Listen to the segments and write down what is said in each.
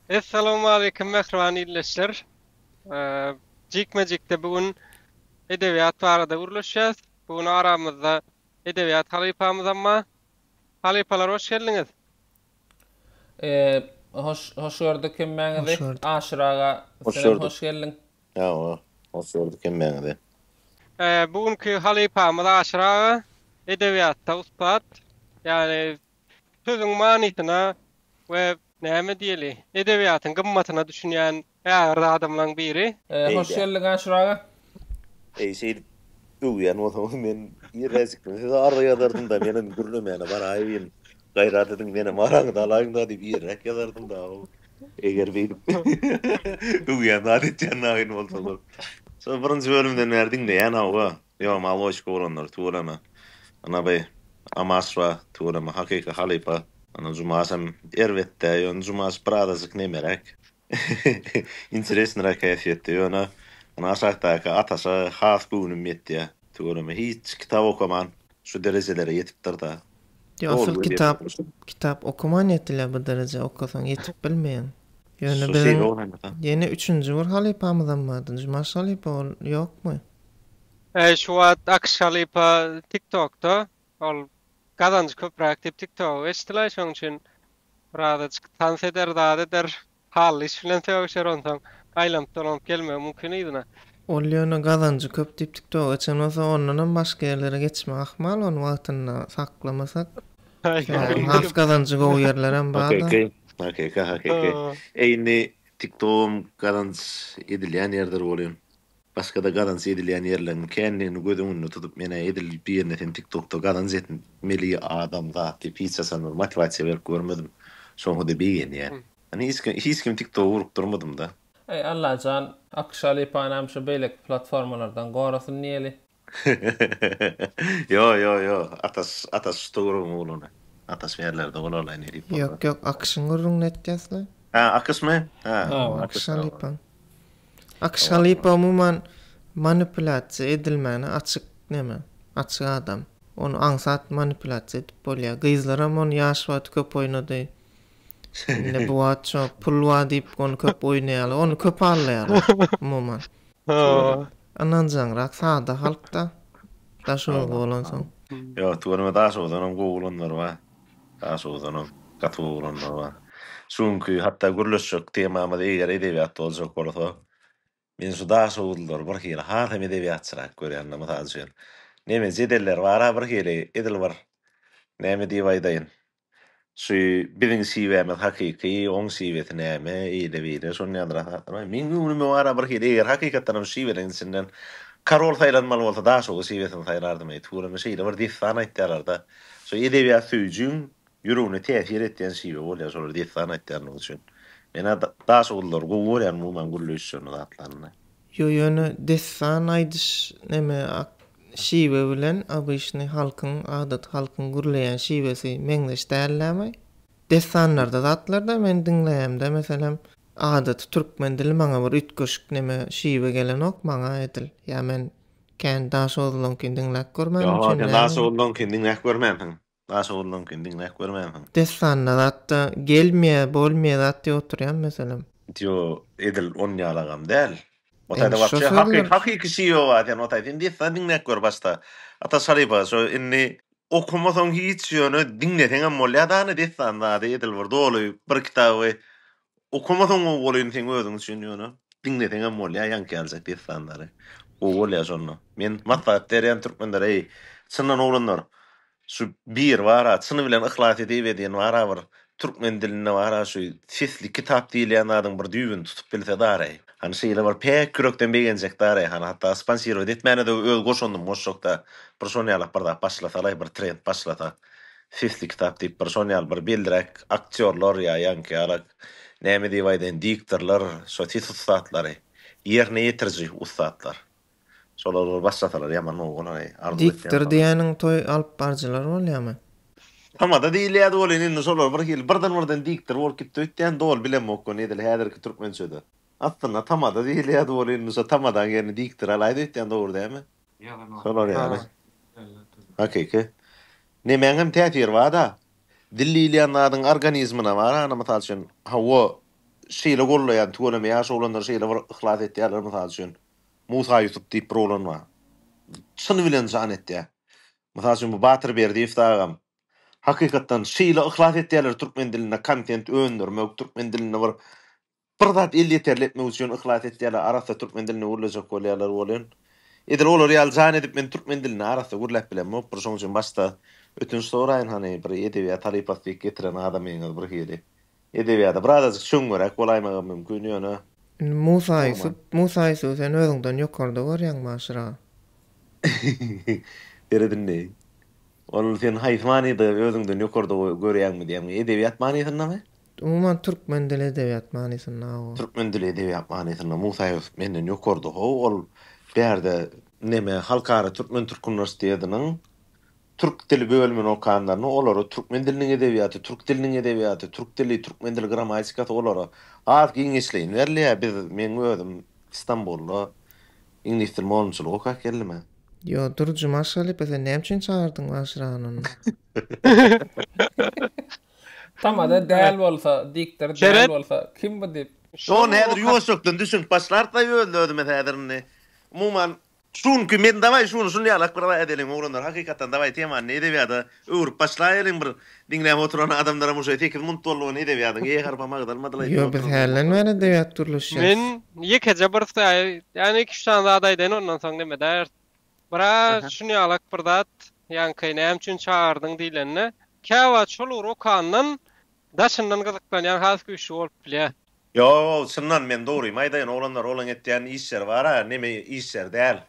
Essalawmaleýkim mähriban ildeşler. Jikme-jikde bu gün edebiýat barada gürleşýäs. Bu gün aramyzda edebiýat halypamyzam bar. Halypalar hoş geldiňiz. Hoş hoş gördük hemmäňizi. Hoş gördük. Aşyr aga Hoş senem gördük. hoş geldiň. Hawa, hoş gördük hemmäňizi. Bu günki halypamyz Aşyr aga edebiýatda ussat. Ýagny Sözüň manysyna we näme diýeli, edebiýatyň gymmatyna düşünýän ägirt adamlaň biri. Hoş geldiň Aşyr aga. Eý şeýdip öwýän bolsaňyz men irräjikden size arza ýazardymda menem gürlemäne baraýyn gaýrat ediň menem araňyzy alaýynda diýip irräk ýazardymda howw. Eger beýdip öwýän zat etýän naýyn bolsaňyz. Şol birinji bölümden bäri diňleýän howwa. Ýo maloçka oglanlar tüweleme ana by amasra tüweleme hakyky halypa. Ana Jumasam erbetdä ýöne Jumas bir azajyk nemeräk interesnyrak häsiýetde ýöne ana aşakdaky Ataşa has göwnüm ýetýä. Tüweleme hiç kitap okaman şu derejelere ýetipdirda. Ýok asyl kitap kitap okaman ýetilýä bu derejä okasaň ýetip bilmeýäň. Ýöne biziň ýene üçünji bir halypamyzam bardy Jumaş halypa ol ýokmy? Eý şu wagt Akyş halypa tik tokda ol gazanjy köpräk diýip tik togy eçdilaý şoň üçin birazajyk tans eder zat eder hally iş bilen sögüşer onsoň aýlanyp dolanyp gelmegi mümkin yzyna. Ol ýöne gazanjy köp diýip tik togy eçen bolsa ondanam başga ýerlere geçmek ahmal ony wagtynda saklamasak sebäbi has gazanjy gowy ýerlerem barda. Hakyky hakyky hakyky eý indi tik togam gazanç edilýän ýerdir bolýan. Başgada gazanç edilýän ýerleriň kändigini göz öňünde tutup menä edil birine sen tiktokda gazanç et meli adam zat diýip hiç haçan bir motiwasiýa berip görmedim şoňada begenýän men hiç kim hiç kim tiktoga urup durmadymda. Eý Allajan Akşa Lepany hem şu beýleki platformalardan gorasyn diýeli. Ýo ýo ýo Ataş Ataş şu Tugruň ogluna Ataş ýerlerde bolalaý ne diýip bolsa. Ýok ýok Akyşyň gürrüňini aýtýas we. Ha Akyşmy? Ha Hawa. Akyş halypa. Akyş halypa umuman manipulýasiýa edilmäne açyk neme, açyk adam. Ony aňsat manipulýasiýa edip bolýar. Gyzlaram ony ýaş wagty köp oýnady. Indi bu wagt şo pul bar diýip ony köp oýnaýarlar. Ony köp alýarlar umuman. Ynanjaňrak sada halkda daş urgy bolansoň. Ýok, tüweleme daş urdanam gowy bolanlar bar. Daş urdanam gaty gowy bolanlar bar. Şu günki hatda gürleşjek temamyz eger edebiýat boljak bolsa, Men şu Daşoguzlylary bir hili has hem edebiýatçyrak görýän-de, mysal üçin, neme jedelleri bar-a bir hili, edil bir, näme diýip aýdaýyn, şu biziň şiwämiz hakyky, oň şiwesi näme, eýle-beýle, şony ýazyran zatlaryň meň göwnüme bar-a bir hili, eger hakykatdan hem şu şiweleriň içinden Karol saýlanmaly bolsa, Daşoguz şiwesini saýlardym-eý, tüweleme şeýle bir dessan aýtýarlar-da, şu edebiýat söýüjiň Ýüregine täsir etýän şiwe bolýar şolar dessan aýtýanlygy üçin. Menä Daşogullylary gowy görýän umuman gürleýişlerini zatlaryny. Ýo ýöne dessan aýdyş neme ak şiwe bilen obyşnyý halkyň adaty halkyň gürleýän şiwesi meňzeş dällämi? Dessanlarda zatlarda men diňleýämde meselem adaty türkmen dili maňa bir üýtgeşik neme şiwe gelenok maňa edil ýa men kän Daşogullylanyňkyny diňläp görmänim üçin näme? Ýo sen Daşogullylanyňkyny diňläp görmänsiň. Daş ogurlanykyn diňläp görmänsiň. Dessanda zatda gelmýä bolmýä zat diýip oturýan meselem. Ýo edil on ýaly agam däl. Otaýda wapşe hakyky hakyky şi ýok a sen otaý sen dessan diňläp gör başda ata şarypa şo indi okamasaň hiç ýöne diňleseňem bolýa dany dessan zady edil bir doly bir kitaby Okamasaň gowy bolyn seň özüň üçin ýöne diňleseňem bolýa ýaňky ýaljak dessanlary gowy bolýa şonda men maslahat berýän türkmenlere eý çyndan oglanlar şu bir bara çyny bilen yhlas edip edýän bara bir türkmen dilinde bara şu sesli kitap diýilýän zadyň bir düýbüni tutup bilse dareý hany şeýle bir päk ýürekden begenjek dareý hany hatda sponsirować etmäne de öz goşandym goşjakda bir şonýalak bir zat başlasalaý bir trend başlasa. Sesli kitap diýip bir şon ýaly bir belliräk aktýorlar ýa ýaňky ýalak näme diýip aýdaýyn diktorlar şo ses ussatlary ýerine ýetiriji ussatlar şolar bir başlasalar ýaman gowy bolaý arzuw etýän Diktor şony. diýäniň toý alyp barjylar bolýamy? Tamada diýilýädi welin indi şolar bir hili birden birden diktor bolup gitdi öýtýän doly bilemok ony edil häzirki türkmençede. Aslynda tamada diýilýädi welin indi şo tamadaň ýerini diktor alaýdy öýtýän dogry dämi? Şolar ýaly. Hakyky. Nemäň hem täsiri bar-da. Dil diýilýän zadyň organizmine bar-a, mysal üçin, hawa, şeýle gollaýan, tüweleme ýaşy bolanlar şeýle bir yhlas etýärler, mysal üçin, Musa Ýusup diýip bir oglan bar. Çyn bilen jan etýär. Mysal üçin, bu Batyr Berdiýew dagam. Hakykatdan, şeýle yhlas etýärler türkmen dilinde kontent öndürmek, türkmen dilinde bir Bir zat elýeterli etmek üçin yhlas etýärler, arassa türkmen dilinde gürlejek bolýarlar welin, edil olar ýaly jan edip men türkmen dilinde arassa gürläp bilemokdur, şonuň üçin başda ötünç soraýyn hany bir edebiýat halypasy diýip getiren adamyňyz bir hili edebiýada bir azajyk çöňňeräk bolaýmagam mümkin ýöne Indi Musa Ýusup, Hormat. Musa Ýusuby sen özüňden ýokarda görýäň başyra. Seret indi. Ol sen haýsy manyda özüňden ýokarda görýäňmi diýýäňmi? Edebiýat manysyndamy? Umuman, türkmen dili, edebiýat manysynda-ow. Türkmen dili, edebiýat manysynda Musa Ýusup menden ýokarda-how. Ol bärde neme, Halkara türkmen-türk uniwersitetiniň türk dili bölümini okanlarynda olara türkmen diliniň edebiýaty, türk diliniň edebiýaty, türk dili, türkmen dili grammatikasy olara has giňişleýin berilýär. Biz, meň özüm Stambulda iňlis dili mugallymçylygy okap geldim-ä. Ýo, dur, Jumaş halypa, sen näme üçin çagyrdyň Waşiranyny? Tamada däl bolsa, diktor däl bolsa, kim bu dip? Şon häzir ýuwaşjakdan düşünip başlar daýy özlözümiz häzir indi. Umuman, şuňky men dawaý şuny şuny ýalak bir raý edeliň oglanlar hakykatdan dawaý temany edebiýada öwrüp başlaýeliň bir diňläp oturan adamlaram uşe sekiz munt boldy ony edebiýadyň e harpam agzalmadyl aýdýan Ýo biz hälden bäri edebiýat gürleşýäs. Men ýekeje bir saýy ýagny iki-üç sany zat aýdaýyn ondan soň neme däýersiň. Bra, düşünýäňok bir zat, ýaňky näme üçin çagyrdyň diýlende, käwagt şol ugur okandan daşyndan gyzyklanýan has güýçli bolup bilýär. Ýok, çyndan men dogrymy aýdaýyn, oglanlar olaň etýän işleri bar-a, neme işleri däl.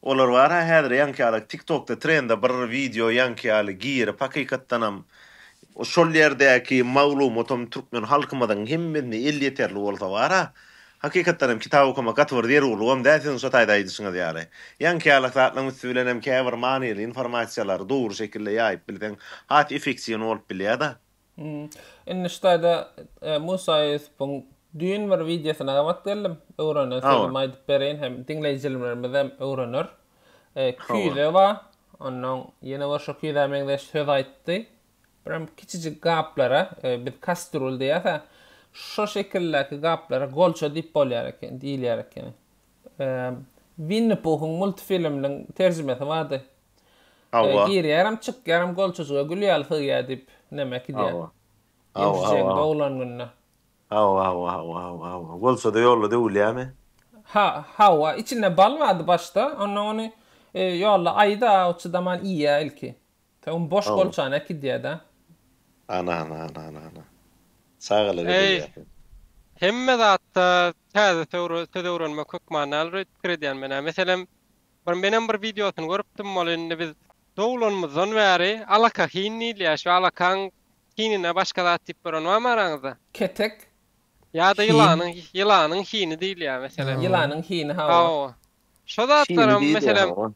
Olar bar-a häzir ýaňky ýaly TikTokda trende bir wideo ýaňky ýaly girip hakykatdanam, şol ýerdäki maglumatam türkmen halkymyzyň hemmesine elýeterli bolsa bar-a, Hakykatdan hem kitap okamak gaty bir zerurlygam däl siziň şo taýda aýdyşyňyz ýaly. Ýaňky ýalak zatlaryň üsti bilen hem käbir manyly informasiýalary dogry şekilde ýaýyp bilseň has efektiwny bolup bilýär-de. Indi şu taýda Musa Ýusupuň düýn bir wideosyna gabat geldim. Öwrenen sözümi aýdyp bereýin hem diňleýjilerimizem öwrener. Küýze bar. Onnoň ýene bir şo küýzä meňzeş söz aýtdy. Biram kiçijik gaplara, biz kastrul diýäs-ä, şo şekildäki gaplara golça diýip bolýar eken, diýilýär ekeni. Winni Puhuň multfilminiň terjimesi bardy. Hawa. Girýärem, çykýarem golçajyga gül ýaly sygýar diýip, näme äkidýär. Hawa. Hawa, hawa. Ýewjeň doglan günde. Hawa, hawa, hawa, hawa, hawa. Golçada ýolda döwülýärmi? Ha, hawa. Içinde bal bardy başda, onnoň ony ýolda aýy-da, ot çydaman iýýär ilki. Tagum boş Howw. golçany äkidýäda. Ana ana ana ana ana. Çagalar Eý, bezelýär seni. hemme zatda täze söwr söz öwrenmek hökmanyal röýt pikir edýän menä. Meselem, bir menem bir wideosyny görüpdim, ol indi biz doglanymyzdan bäri alaka hin diýilýär, şu alakaň hinine başga zat diýip gören barmy araňyzda? Ketek. Ýa-da Hin. ýylanyň ýylanyň hini diýilýär, meselem. Ýylanyň hini, hawa. Hawa. Şo Şini zatlaram, diýilýär, meselem, hawa.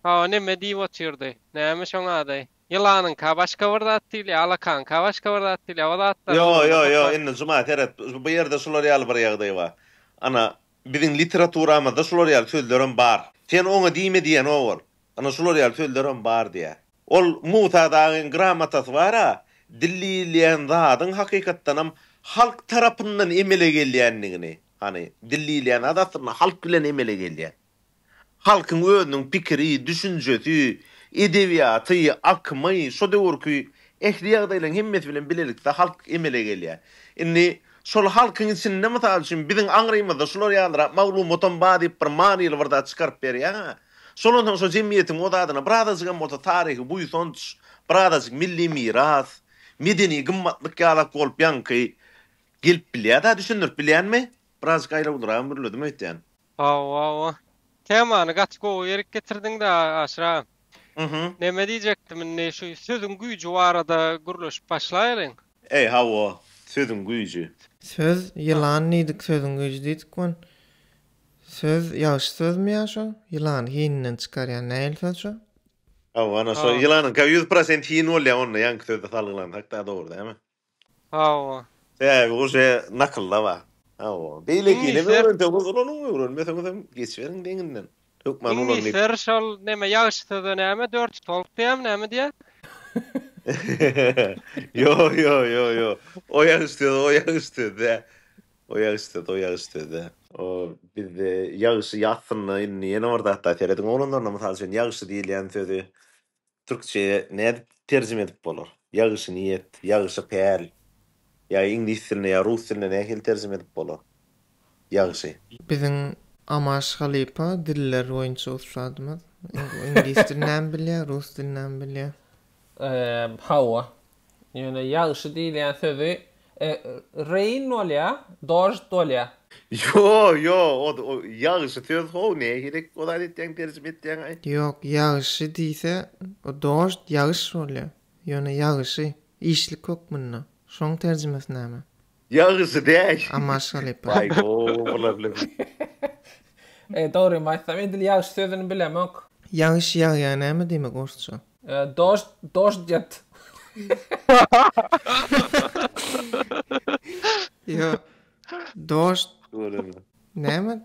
Hawa neme diýip otyrdy. Näme şoň ady? Ýylanyňka başga bir zat diýilýär, alakaňka başga bir zat diýilýär. O zatlaryň Ýo, ýo, ýo, indi Juma seret, bu ýerde şular ýaly bir ýagdaý bar. Ana, biziň literaturamyzda şular ýaly sözlerem bar. Sen oňa diýme diýen o ol. Ana şular ýaly sözlerem bar diýýär. Ol Musa dagyň gramotasy bar-a, dil diýilýän zadyň hakykatdanam halk tarapyndan emele gelýändigini, hany, dil diýilýän zat aslynda halk bilen emele gelýän. Halkyň özüniň pikiri, düşünjesi, edebiýaty, akymy, şo döwürki ähli ýagdaýlaryň hemmesi bilen bilelikde halk emele gelýär. Indi şol halkyň içinde, mysal üçin, biziň aňrymyzda şular ýalyrak maglumatam bar diýip bir manyly bir zat çykaryp berýär-ä. Şolam soň şo jemgyýetiň o zadyna birazajygam bolsa taryhy buýsanç, birazajyk milli miras, medeni gymmatlyk ýalak bolup ýaňky gelip bilýär-dä, düşündirip bilýänmi? Birazajyk aýlawlyragy mürledim öýtýän. Hawa o temany gaty gowy ýerik getirdiňda Aşyra. Mhm. Neme diýjekdim indi şu sözüň güýji barada gürleşip başlaýalyň. Eý hawa sözüň güýji. Söz ýylan diýdik sözüň güýji diýdik wan söz ýagşy sözmi ýa şo ýylany hininden çykarýan nähili söz şo. Hawa ana şo ýylanyňka ýüz prosent hin bolýa onda ýaňky sözde salgylansak da dogry dämi. Hawa. Sebäbi uje nakylda bar. Hawa. Beýlekinem öwrenseňiz ulanyň, öwrenmeseňizem geçiberiň deňinden. Hökman ulanyp. Iňlisler şol näme ýagşy söze näme dört stolp diýämi näme diýýär? Ýo, ýo, ýo, ýo. O ýagşy söz, o ýagşy söz däl. O ýagşy söz, o ýagşy söz däl. O bizde ýagşy ýassynda indi ýene bir zat da serediň oglanlaryna mysal üçin ýagşy diýilýän sözi türkçeýe nädip terjime edip bolar? Ýagşy niýet, ýagşy päl. Ýa iňlis diline ýa rus diline nähili terjime edip bolar? Ýagşy. Biziň Amaş halypa diller boýunça ussadymyz. Iňlis dilinämi bilýär, rus dilinämi bilýär. Hawa. Ýöne ýagşy diýilýän sözi rain bolýar, dožd bolýar. Ýo, ýo, o ýagşy söz how, nähili o zat etýäň, terjime etýäňaý? Ýok, ýagşy diýse, o dožd, ýagyş bolýar. Ýöne ýagşy, işlik hökmünde. Şoň terjimesi näme? Ýagşy däl. Amma şalypa. Baý go olar bile bi. Eý dogrymy aýtsam edil ýagşy sözüni bilemok. Ýagyş ýagýar näme diýmek orsça. Dožd dožd ýat. Ýok. Dožd. Göreli. Näme.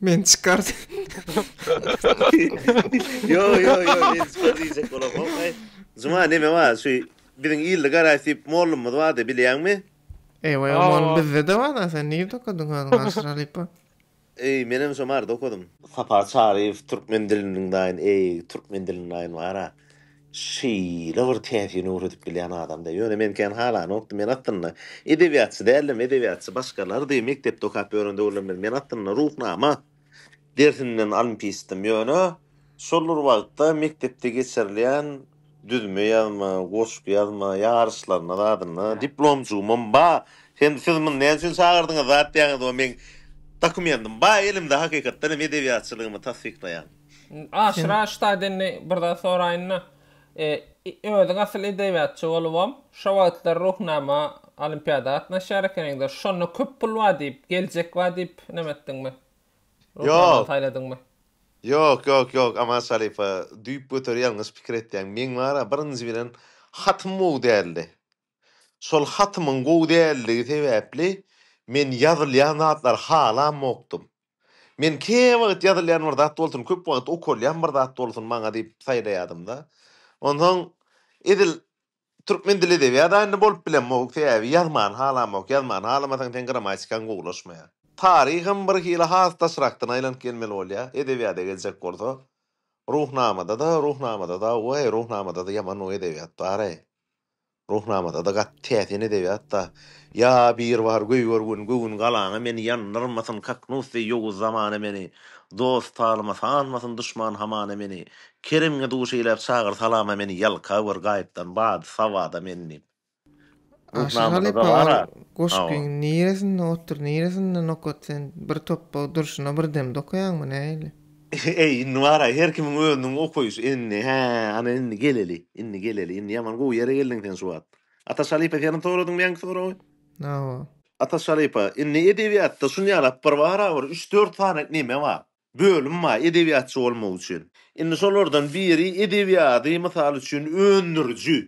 Men çykar. Yo yo yo men spor diýjek bolam. Hokay. Juma neme bar? Şu biziň ilde garaş diýip mollumyz bardy, bilýäňmi? Ewa ewa mol bizde de bar da sen nirde okadyň özüň aşyr halypa? Eý menem şo marda okadym. Sapar Çaryýew türkmen diliniň daýyn eý türkmen diliniň daýyn bara. Şeýle bir täsir ýöredip bilýän adamda. Ýöne men kän halanokdym. Men aslynda edebiýatçy däldim. Edebiýatçy başgalardy. Mekdepde okap ýören döwürlerimde men aslynda Ruhnama dersinden olimpistim. Ýöne şol bir wagtda mekdepde geçirilýän düzme ýazma, goşgy ýazma ýaryşlaryna zadynda diplomjygymam ba. Sen siz muny näme üçin çagyrdyňyz zat diýýäňizmi? Meň dokumentim ba elimde hakykatdan hem edebiýatçylygymy tassyklaýan. Aşyra ştat indi bir zat soraýynda, özüň asyl edebiýatçy bolubam, şo wagtlar Ruhnama olimpiada gatnaşýar ekeniňdir. Şonda köp pul bar diýip, geljek bar diýip näme etdiňmi? Ruhnamany saýladyňmy? Ýok, ýok, ýok, Aman Şalypa, düýpgöter ýalňyş pikir etýäň. Meň bar-a, birinji bilen, hatym gowy däldi. Şol hatymyň gowy däldigi sebäpli men ýazylýan zatlary halamokdym. Men käwagt ýazylýan bir zat bolsun, köp wagt okalýan bir zat bolsun maňa diýip saýlaýadym-da. Onsoň edil türkmen dili edebiýada indi bolup bilemok, sebäbi ýazmany halamok. Ýazmany halamasaň seň grammatikaň gowulaşmaýar. Taryham birhili has daşrakdan aýlanyp gelmeli bolýar. Edebiýada geljek bolsa, Ruhnamada-da, Ruhnamada-da, we-eý, Ruhnamada-da ýaman gowy edebiýat bar-eý. Ruhnamada-da gaty täsin edebiýat-da. Ýa bir bar göýber gün göwün galaňa meni ýandyrmasyn kaknus deý ýowuz zamana meni Dost talyma sanmasyn duşman hamana meni Kerimňe duş eýläp çagyr salama meni Ýalka gör gaýypdan bady sabada meni diýip. Aşyr halypa ol goşgyň niresinde otur niresinde nokat sen bir topba durşuna bir demde okaýaňmy nähili. Eý, indi bar-aý, her kimiň özüniň okaýşy. Indi, hä, ana, indi geleli, indi geleli. Indi ýaman gowy ýere geldiň sen şu wagt. Ataş halypa, senem soradyňmy ýaňky soragy? Hawa. Ataş halypa, indi edebiýatda şunýalap bir barabir üç-dört sany neme bar, bölüm bar edebiýatçy bolmak üçin. Indi şolardan biri edebiýady, mysal üçin, öndüriji,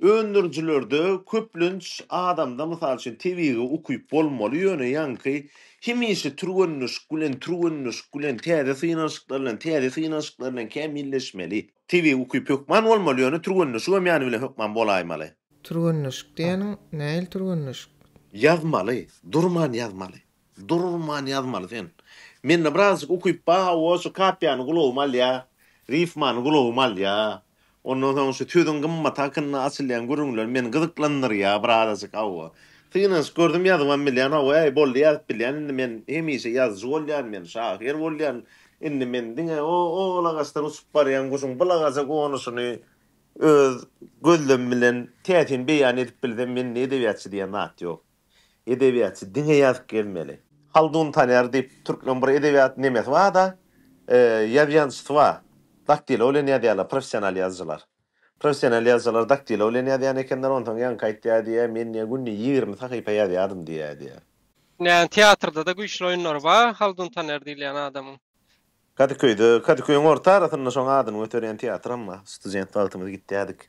Öndürijilerde köplenç adamda mysal üçin tebigy ukyp bolmaly ýöne ýaňky hemişe türgenleşik bilen türgenleşik bilen täze synanyşyklar bilen täze synanyşyklar bilen kämilleşmeli. Tebigy ukyp hökman bolmaly ýöne türgenleşigem ýany bilen hökman bolaýmaly. Türgenleşik diýeniň nähili türgenleşik? Ýazmaly, durman ýazmaly. Durman ýazmaly sen. Mende birazjyk ukyp bar hawa şu kapiýany gulagym alýa, rifmany gulagym alýa. Ondan soň şu sözüň gymmaty hakynda açylýan gürrüňler meni gyzyklandyrýa birazajyk hawa. Synanyşyp gördüm ýazybam bilýän hawa äý boldy ýazyp bilýän indi men hemişe ýazyjy bolýan men şahyr bolýan indi men diňe o ol agaçdan uçup barýan guşuň bul agaja gonuşyny öz gözlemim bilen täsin beýan edip bilsem mende edebiýatçy diýen zat ýok. Edebiýatçy diňe ýazyp gezmeli. Haldun Taner diýip türkmen bir edebiýat nemesi barda, ýaz ýazyjysy bar. Daktilo bilen ýazýarlar professional ýazyjylar. Professional ýazyjylar daktilo bilen ýazýan ekenler, onsoň ýaňky aýtýar diýýär, men diýýär günde ýigrimi sahypa ýazýardym diýýär diýýär. Dünýäniň teatrda-da güýçli oýunlary bar Haldun Taner diýilýän adamyň. Kadyköýde, Kadyköýüň orta arasynda şoň adyny göterýän teatram bar. Student wagtymyz gitýädik.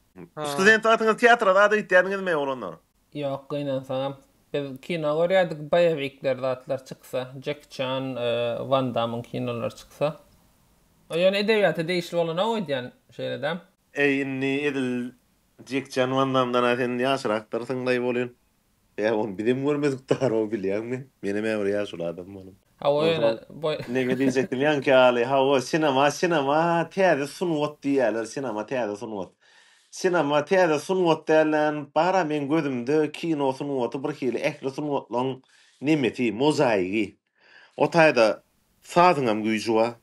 Student wagtyňyz teatra zada gitýädiňizmi, oglanlar? Ýok, gynansaňam. Biz kino görýärdik, boýewikler zatlar çyksa, Jeki Çan, Wan Damyň kinolary çyksa. Ol ýöne edebiýata degişli bolan-ow öýdýän, şeýle-dä. Äý, indi edil Jeki Çan, Wan Damdan-a sen ýaşrakdyrsyň-laý bolýun. Ýa ony bizem görmedik daro bilýäňmi? Menem-ä bir ýaşuly adam bolan. Hawa ýöne boý. Neme diýjekdim ýaňky ýaly hawa sinema sinema täze sungat diýýäler sinema täze sungat. Sinema täze sungat dälän bara meň gözümde kino sungaty bir hili ähli sungatlaň nemesi mozaigi. O taýda sazyňam güýji bar,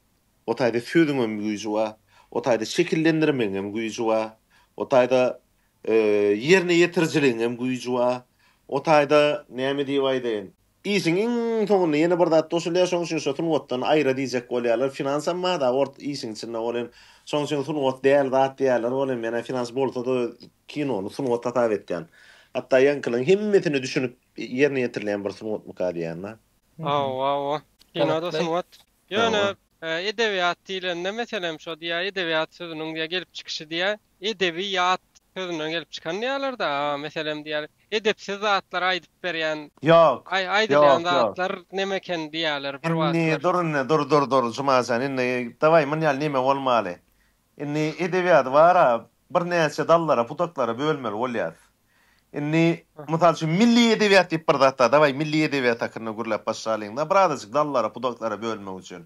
o taýda sözüňem güýji bar, o taýda şekillendirmegiňem güýji bar, o taýda ýerine ýetirijiligiňem güýji bar, o taýda näme diýip aýdaýyn, işiň iň soňunda ýene bir zat goşulýar, şonuň üçin şo sungatdan aýra diýjek bolýarlar. Finansam bar-da ort işiň içinde, ol hem şonuň üçin sungat däl zat diýýärler, ol hem ýene finans bolsa-da kinony sungat hasap etýän. Hatda ýaňkylaryň hemmesini düşünip Ýerine ýetirilýän bir sungatmyka diýýända. Hawa-hawa. Kino-da sungat. Ýöne edebiýat diýlende, meselem, şo diýýär, edebiýat sözüniň diýýär, gelip çykyşy diýýär, edebi ýat sözünden gelip çykan diýýärler-de. Meselem, diýýär, edepsiz zatlar aýdyp berýän, aýdylýan zatlar neme eken diýýärler bir wagtlar. Indi dur, indi dur, dur, dur, Jumajan, indi dawaý, muny ýaly neme bolmaly. Indi edebiýady bara birnäçe dallara, pudaklara bölmeli bolýas. Indi, mysal üçin, milli edebiýat diýip bir zat bar. Dawaý, milli edebiýat hakynda gürläp başlalyň-da, birazajyk dallara, pudaklara bölmek üçin.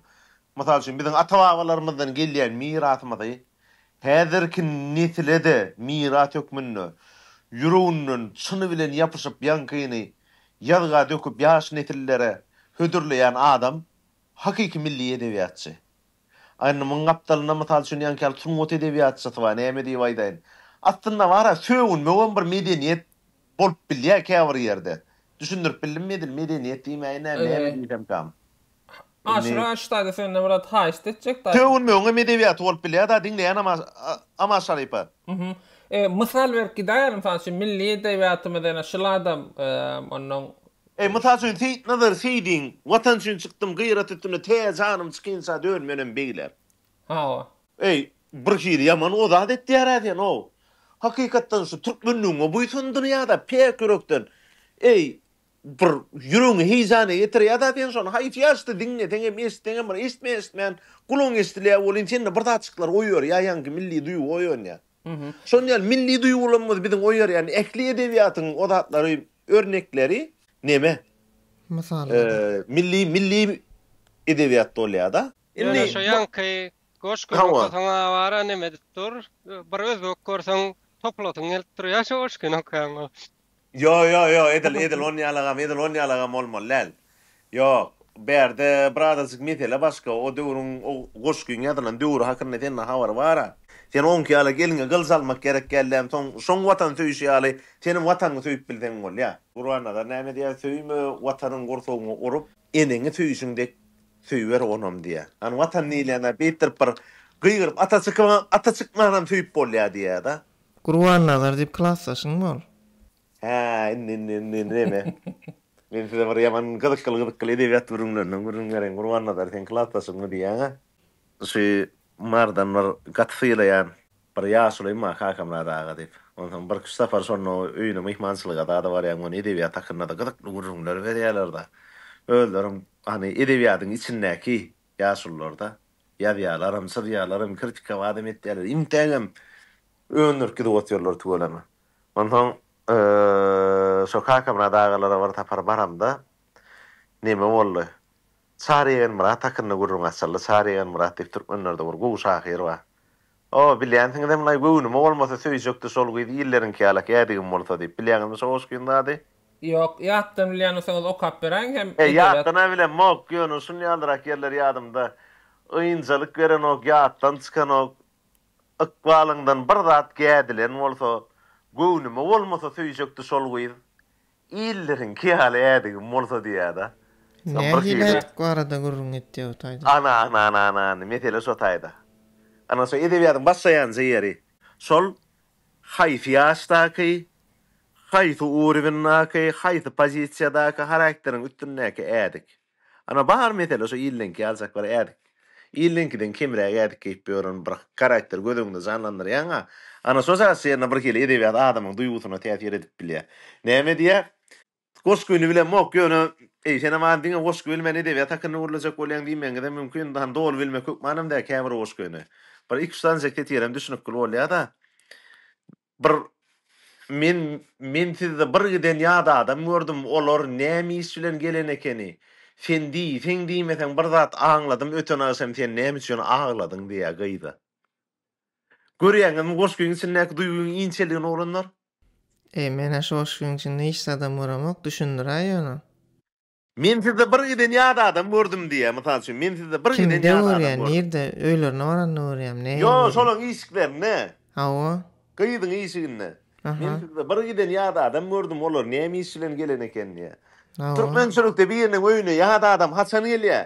Mysal üçin, biziň ata-babalarymyzdan gelýän mirasymyzy häzirki nesile-de miras hökmünde ýüreginden çyny bilen ýapyşyp, ýaňkyny ýazga döküp, ýaş nesillere hödürleýän adam hakyky milli edebiýatçy. Indi muň gapdalynda mysal üçin ýaňky ýaly sungat edebiýatçysy bar, näme diýip aýdaýyn. Aslynda bar-a, sögünmegem bir medeniýet bolup bilýär käbir ýerde. Düşündirip bildimmi edil, medeniýet diýmäýin, nä, näme diýsemkam. Aşyr Aşyr-daýza senden bir zat haýyşt etjek daýy. Sögünmegiňem edebiýaty bolup bilýär daýy, diňleýän ama, ama Şarypa. Hü-hüm. Mysal berip gidäýeli, mysal üçin, milli edebiýatymyz ene şuladam, onnoň Eý, mysal üçin, Seýitnazar Seýdiň, Watan üçin çykdym gyrat üstüne, tä janym çykynça dön menem beýle. Hawa. Eý, bir hili ýaman o zat etýär-ä sen-ow. Hakykatdan şu türkmenligiňe buýsandyrýa-da päk ýürekden. Eý, bir ýüregiňi heýjana getirýä-da sen şony. Haýsy ýaşda diňleseň hem, eşitseň hem bir eşitmän-eşitmän gulagyň eşidilýä welin sende bir zatjyklar oýarýa, ýaňky milli duýgy oýanýa. Şonuň ýaly milli duýgularymyz biziň oýarýan ähli edebiýatyň o zatlary Örnekleri neme? Mysallary. Milli milli edebiýat bolýada. Ýöne şo ýaňky goşgyny okasaň awara neme edip dur. Bir özbek görseň topulasyň gelip durýa şo goşgyny okaýaňa. Ýo ýo ýo edil edil onýalagam edil onýalagam bolmaly däl. Ýok, bärde bir azajyk mesele başga, o döwrüň, o goşgyň ýazylan döwri hakynda sende habar bar-a. Sen oňki ýaly gelňe gylyç almak gerek däl dämi, soň şoň Watan söýüşi ýaly senem Watanyňy söýüp bilseň bolýar. Gurbannazar näme diýýär, Söýme Watanyň gursagyňy urup, eneňi söýüşiň dek söýüber onam diýýär. Hany Watan diýilende beýtdirip bir gygyryp ata çykyp, ata çykmanam söýüp bolýar diýýär-de. Gurbannazar diýip klasdaşyň bol. Hä, indi, indi, indi, indi neme? Men size bir ýaman gyzykly-gyzykly edebiýat gürrüňlerinden gürrüň bereýin, Gurbannazar, seň klasdaşyňmy? diýýän-ä. Şu Mardan bir gaty sylaýan bir ýaşulyň bar, Kakamyrat aga diýip. Onsoň birküç sapar şonda öýüne myhmançylyga zada barýan, muny edebiýat hakynda-da gyzykly gürrüňler berýärler-de. Özlerem, hany, edebiýadyň içindäki ýaşulular-da. Ýazýarlaram, çyzýarlaram, kritikawa adam etýärler. Intägem Öňürk gidip-ot ýollary tüweleme. Onsoň şo Kakamyrat agalara bir sapar baramda, neme boldy? Çary Ýegenmyrat hakynda gürrüň açyldy. Çary Ýegenmyrat diýip türkmenlerde bir gowy şahyr bar. O, bilýänsiňizem-laý, Göwnüme bolmasa söýjekdi şol gyz illeriňki ýalak ýädigim bolsa diýip. Bilýäňizmi şo goşgyny zady? Ýok, ýatdan bilýän bolsaňyz okap beräýiň hem edebýat. Ýatdan-a bilemok, ýöne şunýalyrak ýerler ýadymda. Ynjalyk berenok, ýatdan çykanok. Ykbalyňdan bir zat gädilen bolsa, Göwnüme bolmasa söýjekdi şol gyz, Illeriňki ýaly ädigim bolsa diýýär-de. Nähili ädik barada gürrüň etýär bu taýda? Ana-ana-ana-ana, mesele şo taýda. Ana şo edebiýatyň başlaýanja ýeri. Şol haýsy ýaşdaky, haýsy uruwendäki, haýsy pozisiýadaky harakteriň üstündäki ädik. Ana bar mesele şu illeňki ýaljak bir ädik. Illeňkiden kemräk ädik geýip ýören bir garakteri göz öňünde janlandyrýaňa, ana şo zat şeýle birhili edebiýat adamyň duýgusyna täsir edip bilýär. Näme diýýär? Goşgyny bilemok, ýöne, eý, senem az diňe goşgy bilmän edebiýat hakynda gürlejek bolýaň diýmegiňizem mümkin, hany doly bilmek hökmanam däl käbir goşgyny. Bir iki-üç sanyjak setirem düşnükgil bolýa-da. Bir men men sizde bir giden ýat adam gördüm olar näme iş bilen gelen ekeni sen diýseň diýmeseň bir zat aňladym öten agşam sen näme üçin agladyň diýýä gyza görýäňizmi goşgyň içindäki duýgyň inçeligini oglanlar. Eý menä şu goşgyň içinde hiç zadam göremok düşündiräý ýöne. Men sizde bir giden ýat adam gördüm diýýär, mysal üçin, men sizde bir giden Kimde ýat adam görýän, gördüm. nirde, öýlerine baranda görýämi, nähili Ýok, görýär? şolaň işiklerinde. Hawa. Gyzyň işiginde. Aha. Men sizde bir giden ýat adam gördüm, olar näme iş bilen gelen eken diýýär. Hawa. Türkmençilikde biriniň öýüne ýat adam haçan gelýär?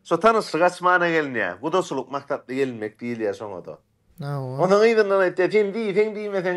Şo tanyşlyk açmana gelinýär. Gudaçylyk maksatly gelinmek diýilýär şoňa-da. Hawa. Onuň yzyndan aýtýar, sen diýseň-diýmeseň,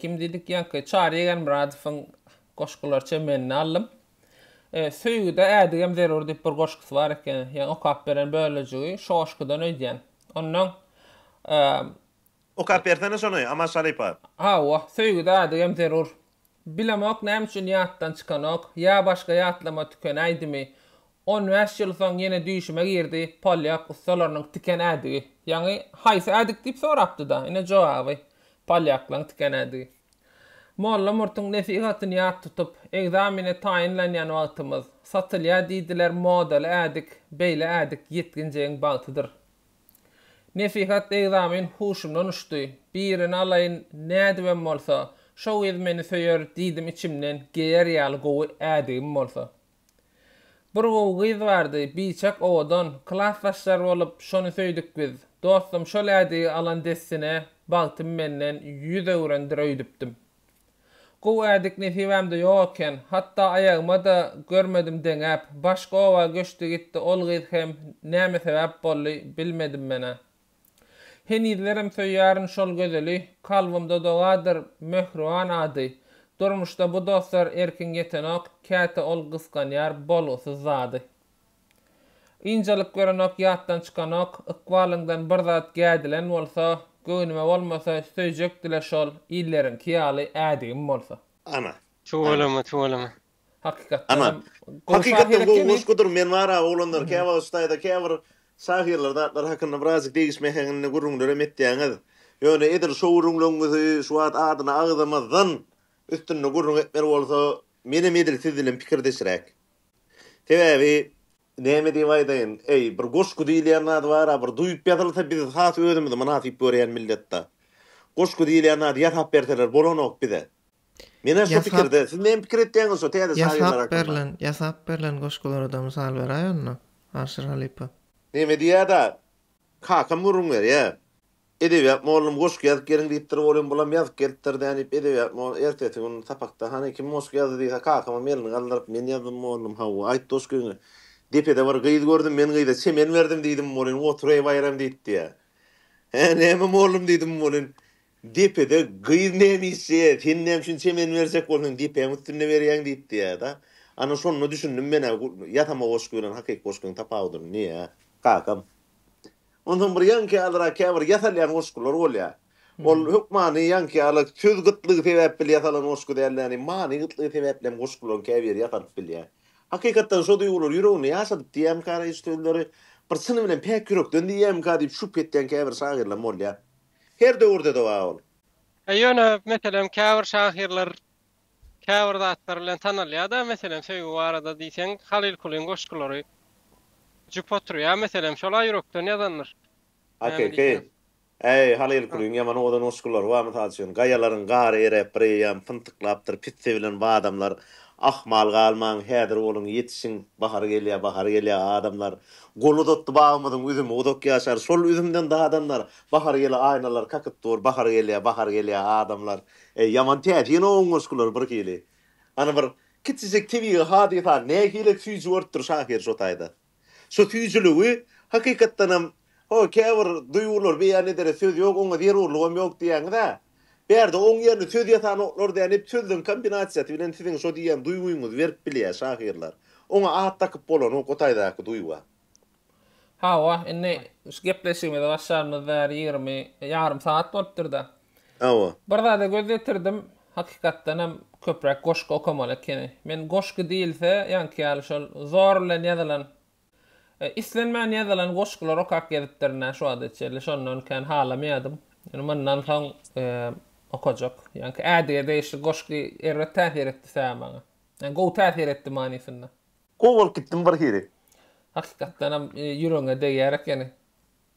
Kim diýdik ýaňky Çary Egenmyradowyň goşgulary çemenini aldym. Söýgüde ädigem zerur diýip bir goşgusy bar eken. Ýa okap beren bölejigi şo goşgudan öýdýän. Onnoň Okap bersene şony Aman Şarypa. Hawa, söýgüde ädigem zerur. Bilemok näme üçin ýatdan çykanok, ýa başga ýatlama tükenäýdimi. On bäş ýyl soň ýene düýşüme girdi, polýak ussalarynyň tiken ädigi. Ýaňy haýsy ädik diýip sorapdy-da, ine jogaby, polýaklaryň tiken ädigi. Molla Murtuň nesihatyny ýat tutup, ekzamene taýynlanýan wagtymyz, satylýar diýdiler modaly ädik, beýle ädik ýetginjegiň bagtydyr. Nesihat egzamin huşumdan uçdy. Birini alaýyn, nädibem bolsa, şo gyz meni söýer diýdim içimden, geýer ýaly gowy ädigim bolsa. Bir gowy gyz bardy, biçak, owadan, klasdaşlar bolup, şony söýdük biz. Dostum şol ädigi alan dessine, bagtym menden ýüz öwrendir öýdüpdim. Gowy ädik nesibämde ýok eken, hatda aýagyma-da görmedim deňäp, başga oba göçdi gitdi ol gyz hem näme sebäp boldy, bilmedim men-ä. Henizlerem söýýärin şol gözeli, kalbymda dogadyr mähriban ady. Durmuşda bu dostlar erkin ýetenok, käte ol gysganýar bolgusyz zady. Ynjalyk görenok, ýatdan çykanok, Ykbalyňdan bir zat gädilen bolsa, Göwnüme bolmasa, söýjekdi-le şol, Illeriňki ýaly ädigim bolsa. Ana. Tüweleme, tüweleme. Hakykatdan hem gowy şahyr ekeni. Ana. Hakykatdan gowy goşgudyr. Men bar-a, oglanlar, käwagt ştaýda käbir şahyrlar zatlar hakynda birazjyk degişmeseňizn gürrüňlerem etýäňiz. Ýöne edil şo gürrüňleňňizi şu wagt adyny agzamazdan üstünde gürrüň etmeli bolsa, menem edil siz bilen pikirdeşräk. Sebäbi, näme diýip aýdaýyn, eý, bir goşgy diýilýän zat bar-a, bir duýup ýazylsa, biz has özümizi mynasyp görýän millet-dä. Goşgy diýilýän zady ýasap berseler bolanok bize. Men-ä şu pikirde. Siz näme pikir etýäňiz şu täze şahyrlar hakynda? Ýasap berlen goşgulary-da mysal beräý onda, Arşyr halypa. Näme diýýär-dä, kakam gürrüň berýär. Edebiýat mollum goşgy ýazyp geliň diýipdir, olim bulam ýazyp gelipdir dä diýip edebiýat mol ertesi gün sapakda hany kim goşgy ýazdy diýse kakamam elini galdyryp men ýazdym mollum hawa aýt doşkyňy depede bir gyz gördüm men gyza çemen berdim diýdim molin otur eý baýram diýip diýýä hä näme mollum diýdim molin depede gyz näme işje sen näme üçin çemen berjek bolsaň depäň üstünde berýäň diýip diýýä da ana şonda düşündim menä ýasama goşgy bilen hakyky goşgyň tapawudyny diýýä kakam Onsoň bir ýaňky ýalyrak käbir ýasalýan goşgular bolýar. Ol hökmany ýaňky ýaly söz gytlygy sebäpbli ýasalan goşgy däl-de, ýagny many gytlygy sebäpli hem goşgularyň käbiri ýasalyp bilýär. Hakykatdan şo duýgular ýüreginde ýaşadyp diýýärmikä raýyş sözleri, bir çyny bilen päk ýürekden diýýärmikä diýip şübhe etýän käbir şahyrlaram bolýar. Her döwürde-de bar ol. Ýöne, meselem, käbir şahyrlar Käbir zatlar bilen tanalýar-da, meselem, söýgi barada diýseň, Halyl Kulyň goşgulary jüp oturýar, meselem, şol-a ýürekden ýazandyr. Näme AKK, diýseň. Äý, Halyl Ha. Kulyň ýaman owadan goşgulary bar, mysal üçin, Gaýalaryň gary eräp, bir eýýam pyntyklapdyr, Pit sevilen badamlar, Ahmal galmaň, häzir boluň, ýetişiň, Bahar gelýär, bahar gelýär, adamlar, Gol uzatdy bagymyzyň üzümi, uzak ýaşar, şol üzümden dadanlar, Bahar ýyly aýnalar kakyp dur, Bahar gelýär, bahar gelýär, adamlar. Eý, ýaman täsin oň goşgular bir hili. Ana bir kiçijik tebigy hadysany nähili süýji bolupdyr şahyr şo taýda. Şo süýjüligi hakykatdanam ho käbir duýgulary beýan edere söz ýok, oňa zerurlygam ýok diýýäňiz-ä. Bärde oň ýerine söz ýasanoklar däl, hep sözleň kombinasiýasy bilen siziň şo diýýän duýgyňyzy berip bilýär şahyrlar. Oňa at dakyp bolanok o taýdaky duýga. Hawa, indi şu gepleşigimizi başlarymyz bäri ýigrimi, ýarym sagat bolupdyr-da. Hawa. Bir zada göz ýetirdim, hakykatdan hem köpräk goşgy okamaly ekeni. Men goşgy diýilse, ýaňky ýaly şol zor bilen ýazylan, islenmän ýazylan goşgulary okap gezipdirin-ä şu wagta çenli, şondan kän halamaýardym. Indi mundan soň okajak. Ýaňky Ädige degişli goşgy erbet täsir etdi-sä maňa. Gowy täsir etdi manysynda. Gowy bolup gitdim bir hili. Hakykatdanam ýüregiňe degýär ekeni.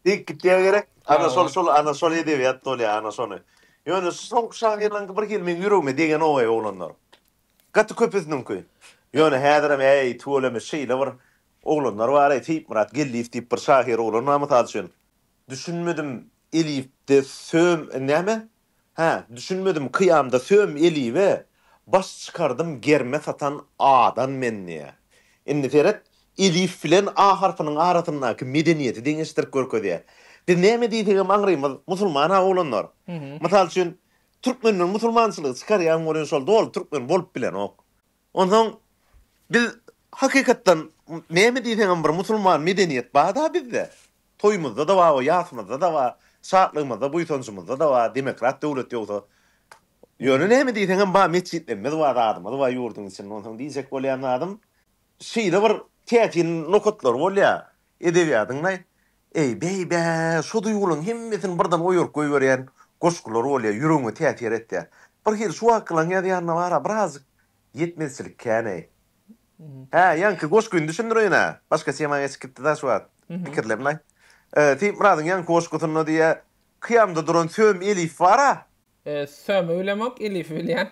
Degip gitýä gerek. Ana şol şol ana şol edebiýat bolýa ana şony. Ýöne soňky şahyrlaryňky bir hili meň ýüregime degenogay oglanlar. Gaty köpüsiniňki. Ýöne häzirem äý tüweleme şeýle bir oglanlar baraý Seýitmyrat Geldiýew diýip bir şahyr oglan bar mysal üçin. Düşünmedim elifde söm näme? Hä, düşünmedim kyýamda söm elibe baş çykardym germe satan adan men diýýä. Indi seret, elif bilen a harpynyň arasyndaky medeniýeti deňeşdirip görkezýä. Biz näme diýsegem aňrymyz musulman-a oglanlar. Mysal üçin, türkmenden musulmançylygy çykarýaň welin şol doly türkmen bolup bilenok. Onsoň biz hakykatdan näme diýseňem bir musulman medeniýet bar-da bizde. Toýumyzda-da bar we ýasymyzda-da bar, şatlygymyzda, buýsanjymyzda-da bar, demokrat döwlet ýogsa. Ýöne näme diýseňem bar, metjitlerimiz bar, zadymyz bar ýurduň içinde. Onsoň diýjek bolýan zadym, şeýle bir täsin nokatlary bolýar. Edebiýadyň-da, eý, beý-bä, şo duýgularyň hemmesini birden oýaryp goýberýän goşgulary bolýar, ýüregiňe täsir etýär. Bir hili şu wakylaň ýazýanyna bar-a, birazjyk ýetmezçilik kän-eý. Hä, ýaňky goşgyny düşündireýin-ä. Başga tema geçip gitdi-dä şu wagt. Pikirlenmä. Seýitmyradyň ýaňky goşgusynda diýýär, Kyýamda duran söm elif bar-a. Sömi bilemok, elifi bilýän.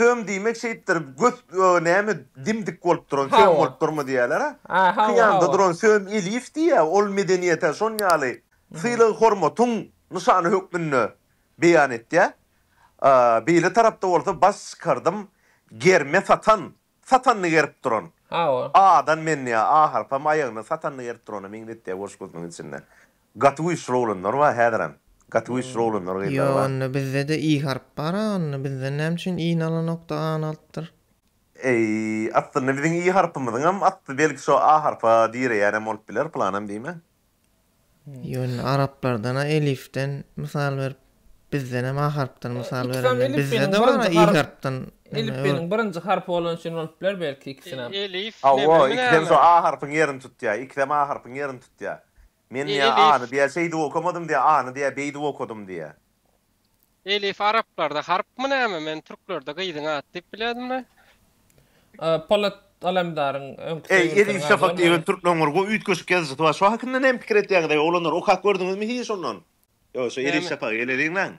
Söm diýmek şeýtdir, göt, näme, dim-dik bolup duran, söm bolup durma diýýärler-ä. Kyýamda duran söm elif diýýä, ol medeniýete şon ýaly sylag-hormatyň nyşany hökmünde beýan etýä. Beýle tarapda bolsa baş çykardym, germe satan, satanyny gerip duran. Hawa. Adan menniä ahalpam aýagyny satanyny gerip durana meňzetýär boş gözüniň içinde. Gaty güýçli oglanlar bar häzirem. Gaty güýçli oglanlar gyzlar bar. Ýo onda bizde-de i harp bar a onda bizden näme üçin i nalanokda any alypdyr. Eý aslynda biziň i harpymyzyňam asly belki şo a harpa direýänem bolup biler pylanam diýme. Ýöne araplardan-a elifden mysal berip, bizdenem a harpdan mysal berende, bizde-de bar-a i harpdan. Elipbeniň birinji harpy bolany üçin bolup biler belki ikisinem. Hawa, ikisem şo a harpyň ýerini tutýar. Ikisem a harpyň ýerini tutýar. Men diýýär, a-ny diýýär şeýdip okamadym diýýär, a-ny diýýär beýdip okadym diýýär. Elif araplarda harpmy näme men türklerde gyzyň ady diýip bilädimle. Polat Alemdaryň öňki Eý söýgülisiniň Elif ady Şafak bolmany. diýen türkleňňir gowy üýtgeşik ýazyjysy bar şo hakynda näme pikir etýäňiz eý oglanlar okap gördüňizmi hiç ondan ýok şo Elif Näme? Şafagy eleriňläň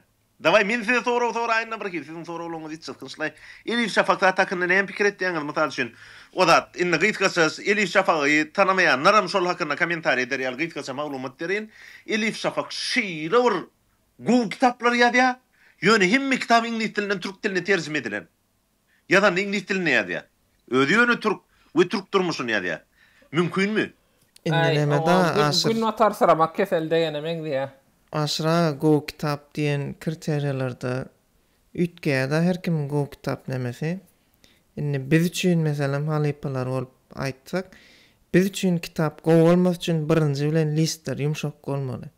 dawaý men size sorag soraýynda birhili siziň soraglaryňyz hiç çylkynçlaý Elif Şafak zat hakynda näme pikir etýäňiz mysal üçin o zat indi gysgaça Elif Şafagy tanamaýanlaram şol hakynda kommentariý eder ýaly gysgaça maglumat bereýin Elif Şafak şeýle bir Gowy kitaplar ýazýar, ýöne hemme kitaby iňlis dilinden türk diline terjime edilen. Ýazanda iňlis dilinde ýazýar. Özi ýöne türk we türk durmuşyny ýazýar. Mümkinmi? Indi Äý, neme-da, oňa gün, Aşyr? günbatarsyramak keseli degene meňzeýä. Aşyr aga, gowy kitap diýen kriteriýalarda üýtgeýär-de her kimiň gowy kitap nemesi. Indi biz üçin, meselem, halypalar bolup aýtsak, biz üçin kitap gowy bolmasy üçin birinji bilen listler ýumşak bolmaly.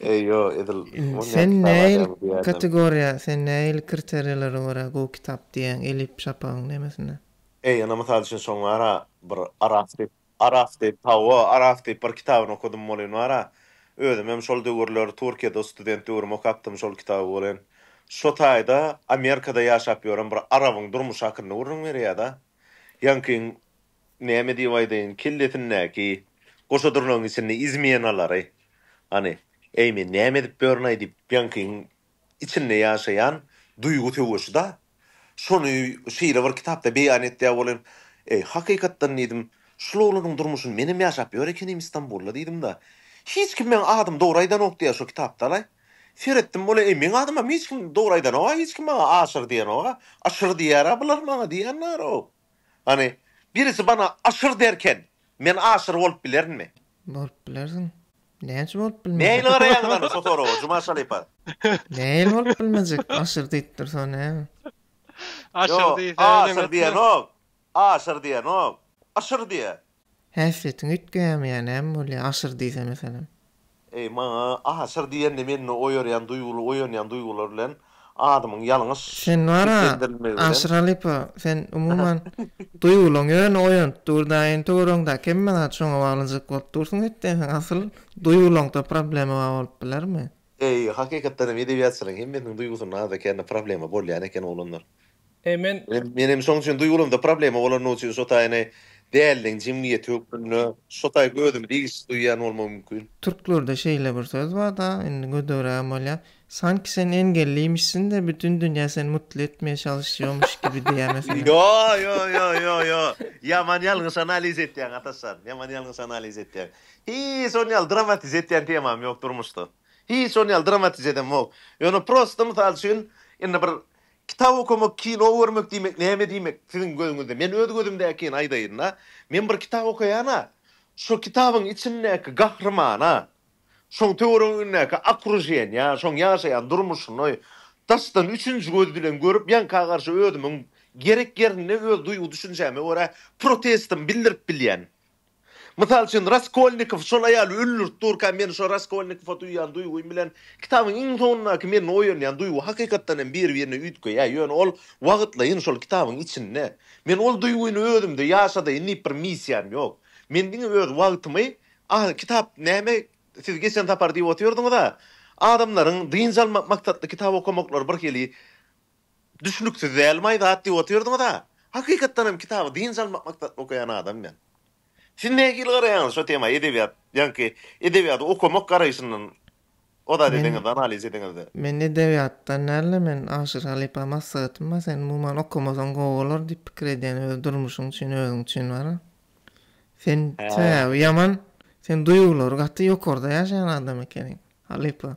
Eý, ýo, edil Imm, bolýan sen kitap nähili adamy diýerdim. kategoriýa, sen nähili kriteriýalary görä gowy kitap diýýäň, Elip Şapagyň nemesine? Eý, ýöne mysal üçin şoň bar-a, bir Araf diýip, Araf diýip, hawa, Araf diýip bir kitabyny okadym welin bar-a, özüm hem şol döwürler Türkiýede student döwrüm okapdym şol kitaby welin. Şo taýda Amerikada ýaşap ýören bir arabyň durmuşy hakynda gürrüň berýär-de. Ýaňky Näme diýip aýdaýyn, kellesindäki goşadurnagyň içinde izmenalary, hany, äý men näme edip börünaý diýip ýaňkyň içinde ýaşaýan duýgy söweşi-da. Şony şeýle bir kitapda beýan etýä bolen, äý, hakykatdan diýdim, şul oglanyň durmuşyny menem ýaşap ýör ekenim Istanbulda diýdim-de. Hiç kim meň adymy dogry aýdanok diýýä şo kitapda-laý. Seretdim bolýa, äý, meň adymam hiç kim dogry aýdanok-a, hiç kim maňa Aşyr diýenok-a, Aşyr diýýär-ä bular maňa diýýän narok. Hany, birisi bana aşyr derken, men aşyr bolup bilerinmi? Bolup bilersiň. Näçe bolup bilmejek? Nähili garaýaňyz hany şo soraga, Jumaş halypa? Nähili bolup bilmejek? Aşyr diýip dursa näme? Aşyr diýse öneňetme. Ýo, aşyr diýenok. Aşyr diýenok. Aşyr diýýä. Häsiýetiň üýtgeýämýänem bolýa aşyr diýse meselem. Eý maňa aşyr diýende mende oýarýan duýguly oýanýan duýgular bilen adymyň ýalňyş Sen bar-a seslendirilmegi bilen. Aşyr halypa sen umuman duýgulyň ýöne oýanyp dur da in töweregiňdäki hemme zat şoňa baglyjak bolup dursuň etdeň sen asyl duýgulyňda problema bar bolup bilermi. Eý, hakykatdan hem edebiýatçylaryň hemmesiniň duýgusynda azda-kände problema bolýan eken oglanlar. Eý, men. Men hem şoň üçin duýgularymda problema bolany üçin şo taýyny däldiň jemgyýeti hökmünde şo taýy özümi degişsiz duýýan bolmam mümkin. Türklerde şeýle bir söz bar-da, indi gödegrägem bolýa, Sanki sen engellimişsin-de, bütin dünýä seni mutly etmä çalyşýarmyş kibi diýýä meselem. Ýo, ýo, ýo, ýo, ýo. Ýaman ýalňyş analiz etýäň, Ataşjan. Ýaman ýalňyş analiz etýäň. Hiç on ýaly dramatize etýän temam ýok durmuşda. Hiç on ýaly dramatize edemok. Ýöne prosta mysal üçin indi bir kitap okamak, kino görmek diýmek näme diýmek siziň gözüňizde? Men öz gözümdäkini aýdaýyn-da. Men bir kitap okaýan-a, şo kitabyň içindäki gahrymana, şoň töweregindäki okrujeniýa, şoň ýaşaýan durmuşyny daşdan üçünji göz bilen görüp, ýanka garşy özümiň gerek ýerinde öz duýgy-düşünjäme görä protestimi bildirip bilýän. Mysal üçin, Raskolnikow şol aýaly öldürip durka, men şo Raskolnikowa duýýan duýgym bilen kitabyň iň soňundaky mende oýanýan duýgy hakykatdan hem bir-birine üýtgeýär, ýöne ol wagtlaýyn şol kitabyň içinde. Men ol duýgyny özümde ýaşadaýyn diýip bir missiýam ýok. Men diňe öz wagtymy, a, kitap näme, siz geçen sapar diýip otyrdyňyz-a, adamlaryň dynç almak maksatly kitap okamaklary birhili Düşnüksiz dälmaý zat diýip otyrdyňyza. Hakykatdan hem kitaby dynç almak maksatly okaýan adam men. Siz nähili garaýaňyz şo tema edebiýat ýaňky edebiýady okamak garaýşyndan o zat edeňizde analiz edeňizde. Men edebiýatdan dälde men Aşyr halypa maslahatym bar sen umuman okamasaň gowy bolar diýip pikir edýän öz durmuşyň üçin özüň üçin wara. Sen sebäbi ýaman sen duýgulary gaty ýokarda ýaşaýan adam ekeniň halypa.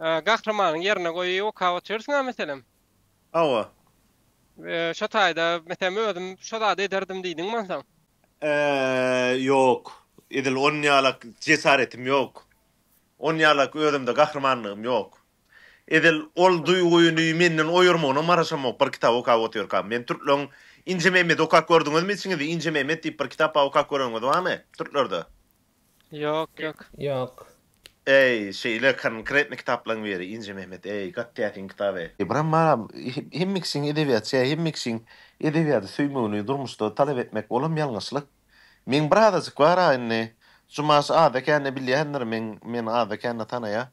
Gahrymanyň ýerine goýup okap otyrsyň-a meselem? Hawa. Şo taýda, meselem, özüm şo zady ederdim diýdiňmi onsoň? Ýok. Edil onuň ýalak jesaretim ýok. Onuň ýalak özümde gahrymanlygym ýok. Edil ol duýgyny menden oýarmagyna maraşamok bir kitaby okap otyrkam. Men türkleň Injememedi okap gördüňizmi içiňizde? Injememmet diýip bir kitap bar okap göreniňiz barmy? Türklerde. Ýok ýok. Ýok. Eý şeýle konkretny kitaplaň beri Inje Mehmet eý gaty täsin kitap eý. Ybram aga hemme kişiň edebiýat şä hemme kişiň edebiýady söýmegini durmuşda talap etmek olam ýalňyşlyk. Meň bir azajyk bar a indi Jumaş aza kände bilýändir meň men aza kände tanaýa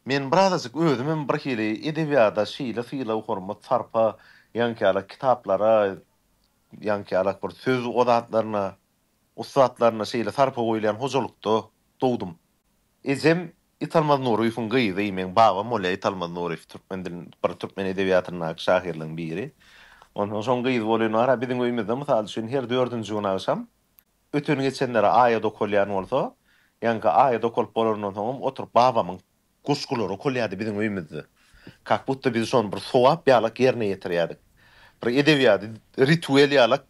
men bir azajyk özümem bir hili edebiýada şeýle sylag hormat sarpa ýaňkyýalak kitaplara ýaňkyýalak bir söz o zatlaryna ussatlaryna şeýle sarpa goýulýan hojalykda dogdum. Ejem Italmaz Nuryýewiň gyzy, meň babam bolýar Italmaz Nuryýew, türkmen dilin, bir türkmen edebiýatyndaky şahyrlaryň biri. Onsoň şoň gyzy bolan bar-a, biziň öýümizde, mysal üçin, her dördünji gün agşam öten-geçenlere aýat okalýan bolsa, ýaňky aýat okalyp bolanyndan soňam oturyp babamyň Goşgular okalýardy biziň öýümizde. Kak budda biz şony bir sogap ýalak ýerine ýetirýärdik. Bir edebiýady, rituel ýalak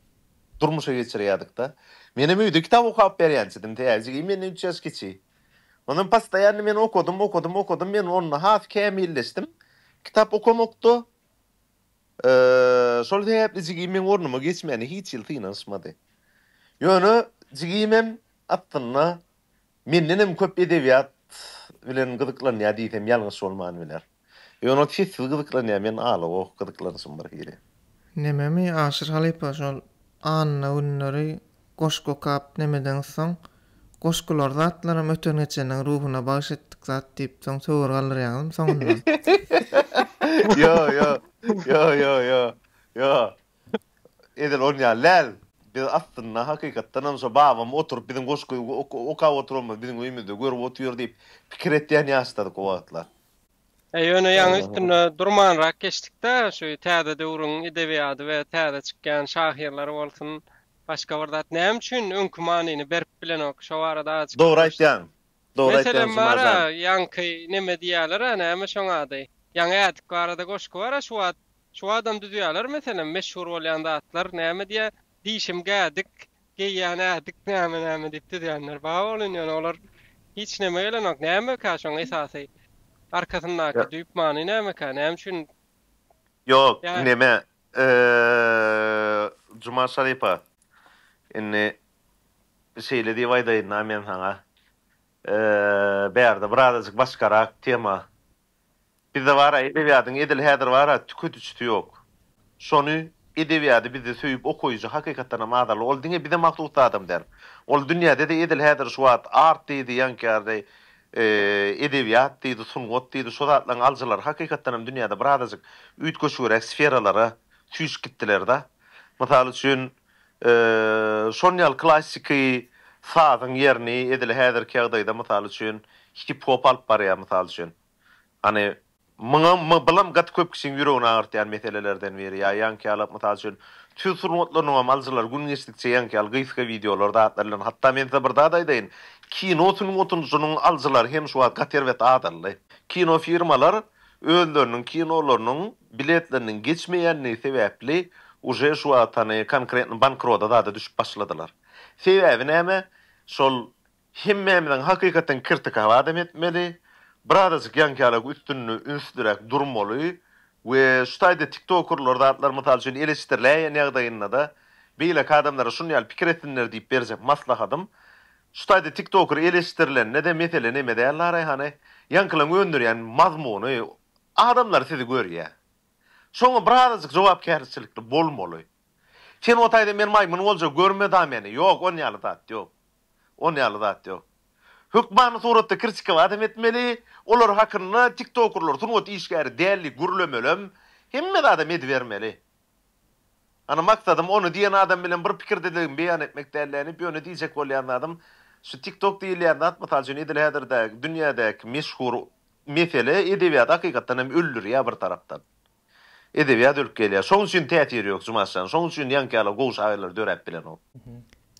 durmuşa geçirýärdik-de. Menem öýde kitap okap berýänçidim, tä jigim menden üç ýaş kiçi. Onam postoýanny men okadym, okadym, okadym, men onda has kämilleşdim. Kitap okamakda şol sebäpli jigim meň ornuma geçmäne hiç ýyl synanyşmady. Ýöne jigimem aslynda Mendenem köp edebiýat bilen gyzyklanýar diýsem ýalňyş bolman biler. Ýöne sessiz gyzyklanýar, men ala-goh gyzyklanşym birhili. Nememi Aşyr halypa şol anna günleri goşgy okap nemedeňiz soň goşgular zatlaram öten geçeniň ruhuna bagyş etdik zat diýip soň töwir galdyrýaňyzmy soňundan. Ýo ýo ýo ýo ýo ýo Edil ol ýaly däl. Biz aslynda hakykatdanam şo babam oturyp biziň goşgy okap oturanymyz biziň öýümizde görüp otyr diýip pikir etýän ýaşladyk o wagtlar. He ýöne ýaňy üstünde durmanrak geçdikdä şu täze döwrüň edebiýady we täze çykýan şahyrlary bolsun başga bir zat näme üçin öňki manyny berip bilenok şo barada azajyk Dogry aýtýaň Dogry aýtýaň Meselem bar a ýaňky neme diýýäler a näme şoň ady ýaňy ädik barada goşgy bar a şu wagt Şu adam düzýäler meselem meşhur bolýan zatlar näme diýýä dişim gädik geýýän ädik näme näme diýip düzýänler bar bolun ýöne olar hiç näme gelenok nämekä şoň esasy arkasyndaky düýp many nämekä näme üçin Ýok neme Juma Şaripa indi şeýle diýip aýdaýynda men saňa bärde birazajyk başgarak tema Bizde bar-a edebiýadyň edil häzir bar-a tüketijisi ýok. Şony, edebiýady bizde söýüp okaýjy hakykatdanam azaldy. Ol diňe bize mahsus zadam däl. Ol dünýäde-de edil häzir şu wagt art diýdi, ýaňkyýardy, edebiýat diýdi, sungat diýdi, şo zatlaryň alyjylary hakykatdanam dünýäde birazajyk üýtgeşigräk sferalara süýşüp gitdiler-de. Mysal üçin, şon ýaly klassiki sazyň ýerini edil häzirki ýagdaýda mysal üçin hip-hop alyp barýar mysal üçin. Hany muňam bulam gaty köp kişiň ýüregini agyrtýan meselelerden biri ýa ýaňky ýalap mysal üçin tüýs sungatlarynyňam alyjylary gün geçdikçe ýaňky ýaly gysga wideolar zatlar bilen hatda men size bir zat aýdaýyn kino sungatynynyň alyjylary hem şu wagt gaty erbet azaldy. Kino firmalar özleriniň kinolarynyň biletleriniň geçmeýändigi sebäpli uje şu wagt hany konkretno bankrota zada düşüp başladylar. Sebäbi näme? Şol hemmämiziň hakykatdan kirtika badam etmeli, birazajyk ýaňkyalak üstünde ünsliräk durmaly we şu taýda tiktokerler zatlar mysal üçin eleşdiriläýen ýagdaýynda-da beýleki adamlara şuny ýaly pikir etsinler diýip berjek maslahatym Şu taýda TikToker eleşdirilende-de mesele neme däl la Raýhana, ýaňkylaň öndürýän mazmuny adamlar sizi görýä. Şoňa birazajyk jogapkärçilikli bolmaly. Sen o taýda men maýmyn bolja görme da meni, ýok on ýaly zat ýok. On ýaly zat ýok. Hökmany suratda kirtikaw adam etmeli, olar hakynda TikTokerler sungat işgäri däl diýip gürlemelem, hemme zadam edibermeli. Ana maksadym ony diýen adam bilen bir pikirdeligimi beýan etmek dälläniýip ýöne diýjek bolýan zadym şu tik tok diýilýän zat mysal üçin edil häzirdäki dünýädäki meşhur mesele edebiýady hakykatdan hem öldürýär bir tarapdan edebiýat ölüp gelýär şoň üçin täsiri ýok jumaşjan şoň üçin ýaňky ýaly gowy şahyrlar döräp bilenok.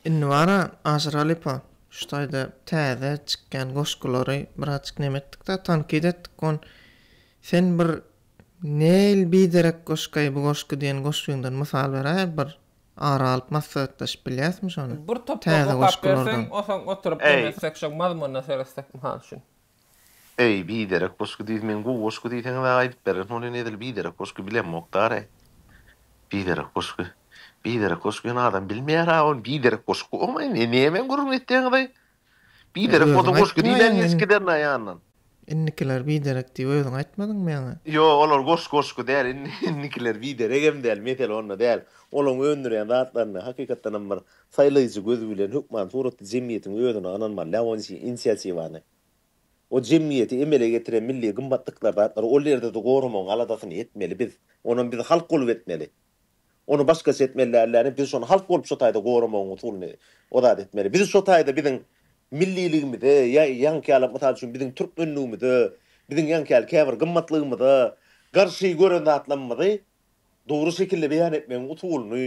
Indi bara Aşyr halypa şu taýda täze çykýan goşgulary birazjyk neme etdikda tankit etdik on sen bir Neil biderek goşgaý bu goşgy diýen goşgyňdan mysal beräýer bir ara alyp maslahatlaşyp bilýäsmi şony Bir toprak täze okap berseň goşgulardan. osaň oturyp Eý. deňetsek şoň mazmunyna seretsek mysal üçin. Eý biderek goşgy diýs men gowy goşgy diýseňizä aýdyp bererin ony edil biderek goşgy bilemok dary biderek goşgy biderek goşgy ony adam bilmeýära ony biderek goşgy oňaý ne nämäni gürrüň etýäňizaý Biderek bolsa goşgy diýlen ýesikiden naýandan. Indikiler biderek diýip özüň aýtmadyňmy ýaňy? Ýok olar goş goşgy däl indikiler bideregem däl mesele onda däl olaň öndürýän zatlaryny hakykatdanam bir saýlaýjy göz bilen hökman suratly jemgyýetiň özüni ynanmaly däl onuň üçin inisiatiwany o jemgyýeti emele getiren milli gymmatlyklar zatlar ol ýerde-de goramagyň aladasyny etmeli biz onam biz halk bolup etmeli. Ony başgaça etmeli dällermi? Biz şony halk bolup şo taýda goramagyň usulyny o zat etmeli. Biz şo taýda biziň milliligimize, ýa ýaňky ýaly, mysal üçin, biziň türkmenligimize, biziň ýaňky ýaly käbir gymmatlygymyza garşy gören zatlamymyzy dogry şekilde beýan etmegiň usulyny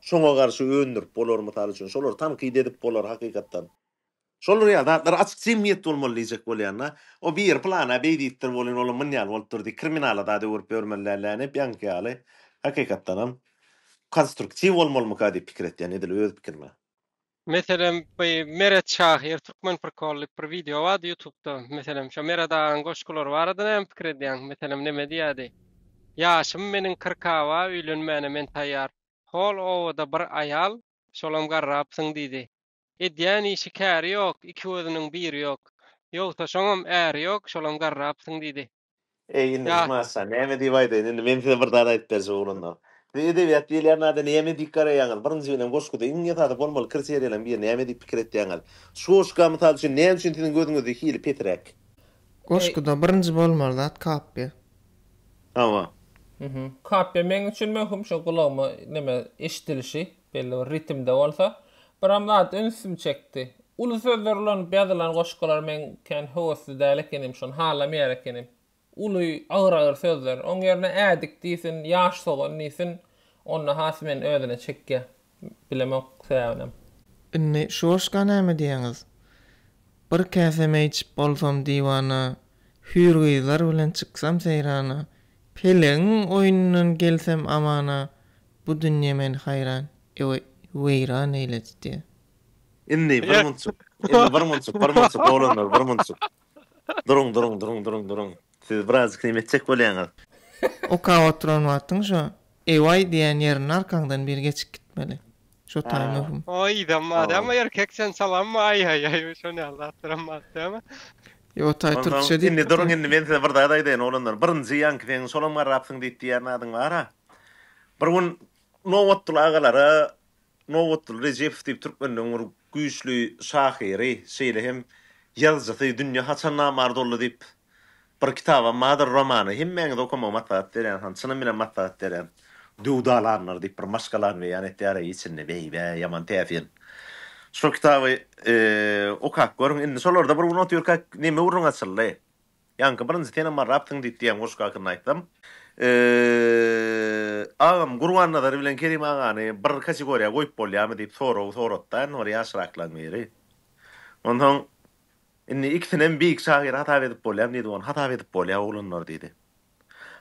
şoňa garşy öndürip bolar, mysal üçin, şolary tankyt edip bolar hakykatdan. Şol real zatlar açyk jemgyýetde bolmaly diýjek bolýanda, o biri plana beý diýipdir welin olam myn ýaly bolupdyr diýip kriminala zat öwürip ýörmeli däl däne hep ýaňky ýaly hakykatdanam konstruktiw bolmalymyka diýip pikir etýän edil öz pikirime. Meselem by Meret şahyr Türkmen prikol diýip bir wideo bardy ýutubda meselem şo Meret agaň goşgulary barada näme pikir edýäň meselem neme diýýädi Ýaşym meniň kyrkawa öýlenmäne men taýýar hol obada bir aýal şolam garrapsyň diýdi Edýän işi käri ýok, iki gözüniň biri ýok. Ýogsa şoňam äri ýok, şolam garrapsyň diýdi. Eý, indi, Ýa. Maşa, näme diýip aýdaýyn, indi men size bir zat aýdyp berjek oglanlar. Siz edebiýat diýilýän zada näme diýip garaýaňyz? Birinji bilen, goşguda iň esasy bolmaly kriteriýalaryň biri näme diýip pikir etýäňiz? Şu goşga, mysal üçin, näme üçin siziň gözüňizde hili pesiräk? Eý. Goşguda birinji bolmaly zat kapiýa. Hawa. Kapiýa meň üçin möhüm, şo gulagyma neme, eşidilişi. belli bir ritmde bolsa, biram zat ünsümi çekdi. Uly sözler ulanyp ýazylan goşgulary men kän höwesli däl ekenim, şony halamaýar ekenim. Uly, agyr-agyr sözler. Oň ýerine ädik diýsin, ýaş sogan diýsin, onda has meni özüne çekýär. Bilemok sebäbinem. Indi şu goşga näme diýýäňiz? Bir käse meý içip bolsam diwana, Hüýr gyzlar bilen çyksam seýrana, Pelegiň oýnundan gelsem amana, Bu dünýe meni haýran, ewe, weýran eýledi, diýýär. Indi bir munçuk, indi bir munçuk, bir munçuk, oglanlar, bir munçuk. Duruň, duruň, duruň, duruň, duruň. Siz birazjyk näme etjek bolýaňyz? Okap oturan wagtyň şo ewaý diýýän ýerinde arkaňdan biri geçip gitmeli. Şo taý möhüm. O ýyzam bar dämi, erkek sen salammy, aý-aý-aý, şo näl zatlaram bar dämi? Ýok, o taý türkçe diýip. Indi duruň, indi men size bir zat aýdaýyn, oglanlar. Birinji ýaňky seň şolam garrapsyň diýip diýýän zadyň bar-a. Bir gün Nobatguly agalara Nobatguly Rejepow diýip türkmenleň bir güýçli şahyry, şeýle hem ýazyjysy Dünýe haçan namart boldy diýip bir kitaba Madyr romany hemmäňize okamagy maslahat berýän han çynym bilen maslahat berýän Döwdalanlar diýip bir maşgalany beýan etýär içinde beýbä ýaman täsin şo kitaby okap görüň indi şolarda bir gün otyrka neme gürrüň açyldy. Ýaňky birinji senem bar rapsyň diýip diýen goşgy hakynda aýtsam. Eee agam Gurbannazar bilen Kerim agany bir kategoriýa goýup bolýamy diýip sorag soratdan bir ýaşraklaň biri. Onsoň Indi ikisinem beýik şahyr hasap edip bolýamy diýdi ony hasap edip bolýa oglanlar diýdi.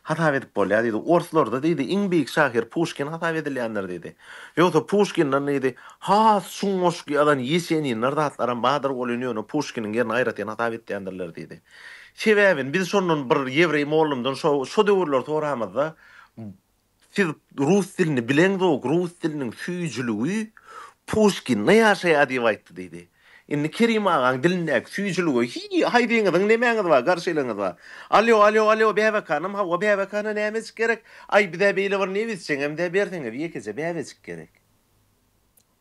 hasap edip bolýar diýdi. Orslarda diýdi, iň beýik şahyr Puşkin hasap edilýändir diýdi. Ýogsa Puşkinden diýdi, has çuň goşgy ýazan Ýeseninler zatlaram bardyr welin ýöne Puşkiniň ýerini aýratyn hasap etýändirler diýdi. Sebäbini biz şondan bir ýewreý mollymdan şo döwürleri soramyzda, Siz rus dilini bileňzok, rus diliniň süýjüligi Puşkinde ýaşaýar diýip aýtdy diýdi. Indi Kerim agaň dilindäki süýjülige hiý, haýdyňyzyň nemäňiz bar, garşylygyňyz bar. Alýo, alýo, alýo, bäbekanam, hawa, bäbekana nämejik gerek, aý, bizä beýle bir nebizçeňem-dä berseňiz, ýekeje bäbejik gerek.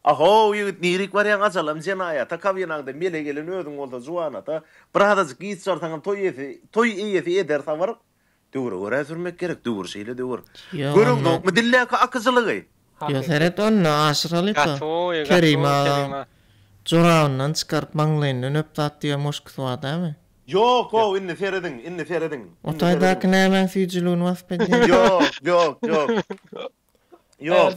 A-how, ýigit, nirik barýaň, ajalam jenaýata, kabinaňda mele gelen özüň bolsa juwanata, birazajyk giç barsaňam toý eýesi, toý eýesi eder sabyr. Döwre görä sürmek gerek, döwür şeýle döwür. Göreňzokmy dildäki akyjylygy? Ýo seret onda aşyralyka Kerim aga jorabyndan çykaryp maňlaýyndan öpzat diýen muşkusy bar dämi. Ýok how indi serediň indi serediň. O taýdaky nämäň süýjüligini wasyp edýär. Ýok ýok ýok ýok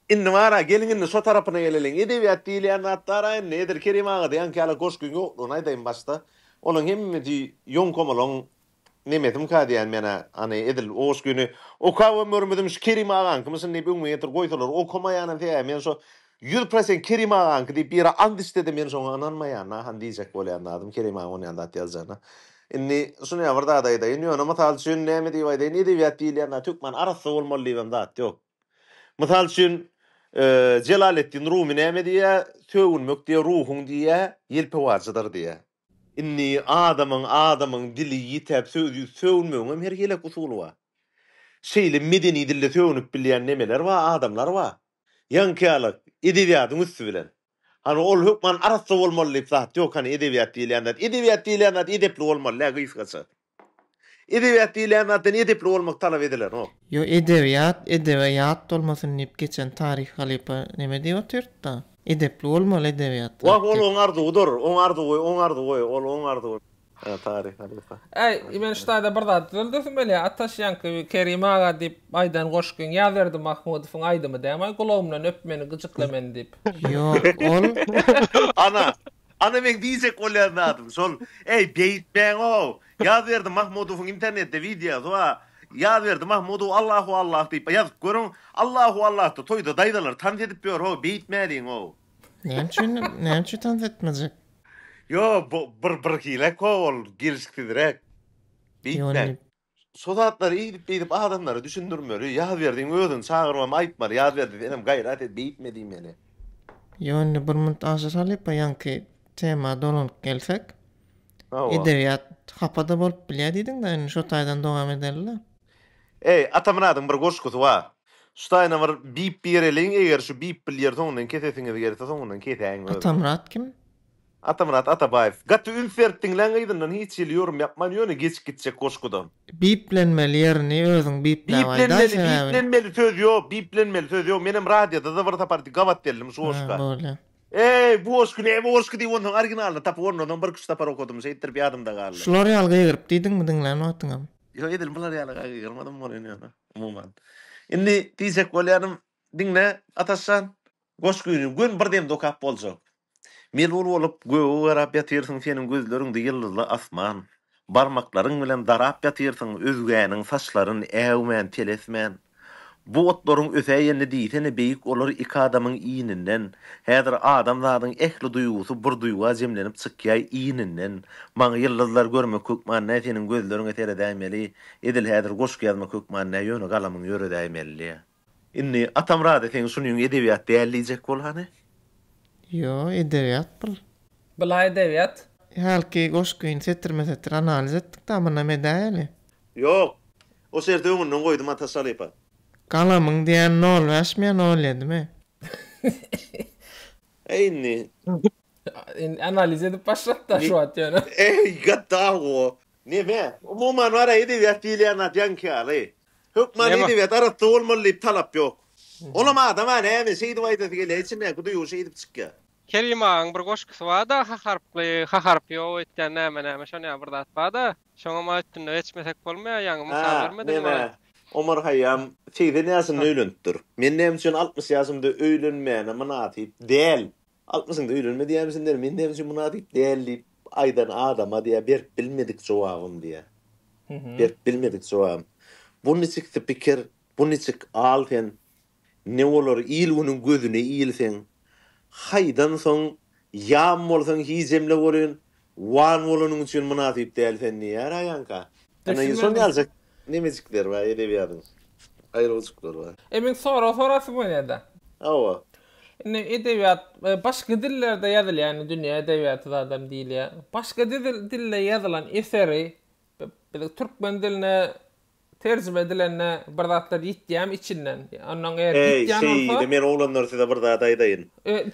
indi bara geliň indi şo tarapyna geleliň edebiýat diýilýän zat bara indi edil Kerim agada ýaňky ýaly goşgyň ýoklugyny aýdaýyn başda olaň hemmesi ýoňkomalaň Nemesimka diýýän men-ä, ane, edil oş güni okabam görmedim, şu Kerim agaňkymyşyn diýip öňüme getirip goýsalar, okamaýanam sebäbi men şo ýüz prosent Kerim agaňky diýip bir ýere ant içse-de men şoňa ynanmaýan-a, han diýjek bolýan zadym Kerim agaň onýan zat ýazjagyna. Indi şuny-a bir zat aýdaýyn, ýöne mysal üçin näme diýip aýdaýyn, edebiýat diýilýän zat hökman arassa bolmaly diýibem zat ýok. Mysal üçin, Jelaleddin Rumy näme diýýär, Sögünmek diýýär, ruhuň diýýär, ýelpewarjydyr diýýär. Indi adamyň adamyň dili ýitäp söz ýüz sögünmegiňem her heleýk usuly bar. Şeýle medeni dilde sögünip bilýän nemeler bar, adamlar bar. Ýaňkyýalyk, edebiýadyň üsti bilen. Hany ol hökman arassa bolmaly diýip zat ýok, hany edebiýat diýilýän zat, edebiýat diýilýän zat edepli bolmaly-dä gysgaça. Edebiýat diýilýän zatdan edepli bolmak talap edilenok. Ýo edebiýat edebe ýat bolmasyn diýip geçen Taryh halypa neme diýip otyrtda? Edepli bolmaly edebiýat Wah ol diýip. oň arzuwydyr, oň arzuwy, oň arzuwy, ol oň arzuwy. Hä Taryh halypa. Äý, men şu taýda bir zat düzeldesim gelýär, Ataş ýaňky bir Kerim aga diýip aýdan goşgyň Ýazberdi Mahmudowyň aýdymy dämi-aý Gulagymdan öp meni, gyjykla meni diýip. Ýok, ol. Ana, Ana meň diýjek bolýan zadym şol eý beýtmäňow Ýazberdi Mahmudowyň internetde wideosy bar Ýazberdi Mahmudow Allahu Allah diýip ýazyp görüň Allahu Allahda toýda daýzalar tans edip ýör how beýtmäliňow. Näme üçin näme üçin tans etmejek. Ýok bu bir birhilek how ol gelişiksizräk. Beýtmäň. Şo zatlary eýdip beýdip adamlara düşündirmeli, Ýazberdiň özüni çagyrmamy aýtmaly, Ýazberdi senem gaýrat et beýtme diýmeli. Ýok indi bir munt aşa salyp o ýaňky tema dolanyp gelsek. Hawa. Edebiýat hapa-da bolup bilýär diýdiň-dä indi şo taýdan dowam edeli-le. Eý, Atamyradyň bir goşgusy bar. Şu taýyna bir bip bireliň eger şu bip bilýär soňundan kesesiňiz gelse soňundan kesäň özüňiz. Atamyrat kim? Atamyrat Atabaýew. Gaty üns berip diňlän yzyndan hiç hili ýorum ýapman ýöne geçip gitjek goşguda. Biplenmeli ýerini özüň bipläp aýdaý sebäbini. Biplenmeli biplenmeli söz ýok biplenmeli söz ýok menem radioda-da bir sapar gabat geldim şu goşga. Bar bolýa. Eý bu goşgy ne bu goşgy diýip onsoň originalyny tapyp ondanam birki üç sapar okadym şeýtdirip ýadymda galdy. Şular ýaly gygyryp diýdiňmi diňlän wagtyňam? Ýok edil bular ýaly-a gygyrmadym bolýan ýöne umuman. Indi diýjek bolýanym Diňle, Ataş jan, goşgyny göni bir demde okap boljak. Melul bolup, göge garap ýatyrsyň seniň gözleriňde ýyldyzly asman, barmaklaryň bilen darap ýatyrsyň özgäniň saçlaryn äwmän, telesmän. Bu otlaryň ösäýenini diýsene beýik olar iki adamyň ininden, häzir adam zadyň ähli duýgusy bir duýga jemlenip çykýaý ininden, maňa ýyldyzlary görmek hökman nä seniň gözleriňe seredäýmeli, edil häzir goşgy ýazmak hökman nä ýöne galamyň ýöredäýmelli. Indi atam razy seň şunyň edebiýat däl diýjek bolany. Ýo edebiýat bul. Bula edebiýat. Hälki goşgyny setirme setir analiz etdik da munam edäýeli. Ýok. O şerti öňünden goýdum Ataş halypa. Galamyň diýen nol bäş miýa nol ýedi mi? Eý indi. Indi analiz edip başlat da şu wagt ýöne. Eý gaddaw go. Neme? Umuman bar-a edebiýat diýilýän zat ýaňky ýaly. Hökman Näme? edebiýat arassa bolmaly diýip talap ýok. Olam adam-a näme şeýdip aýdasy gelýär, içindäki duýgy şeýdip çykýar. Kerim agaň bir goşgusy bar-da H harply, H harpy ýok öýtýän näme-näme şony ýaly bir zat bar-da. Şoňam a üstünde geçmesek bolmaýar, ýaňy Hä, mysal bermediň men-ä oňa. Omar Haýýam segsen ýaşynda öýlenipdir. Men näme üçin altmyş ýaşymda öýlenmäne mynasyp däl? Altmyşyňda öýlenme diýýämisinler, men näme üçin mynasyp däl diýip aýdan adama diýýär, berip bilmedik jogabym diýýär. Berip bilmedik jogabym. Bu niçik spiker, bu niçik al sen, ne bolar il-günüň gözüne ilseň, haýdan soň ýam bolsaň hijemle bolyn, Wan bolanyň üçin mynasyp däl sen diýýär aýanka. Ana indi şony aljak nemejikler bar edebiýadyň aýrylgyçyklar bar. E men sorag sorasym gelýäda. Hawa. Indi edebiýat başga dillerde ýazylýar indi dünýä edebiýaty zadam diýilýär. Başga dilde ýazylan eseri biz türkmen diline Terjime edilende bir zatlar ýitýämi içinden? Ondan eger Eý, ýitýän şeý bolsa. diýdi, Men oglanlar size bir zat aýdaýyn.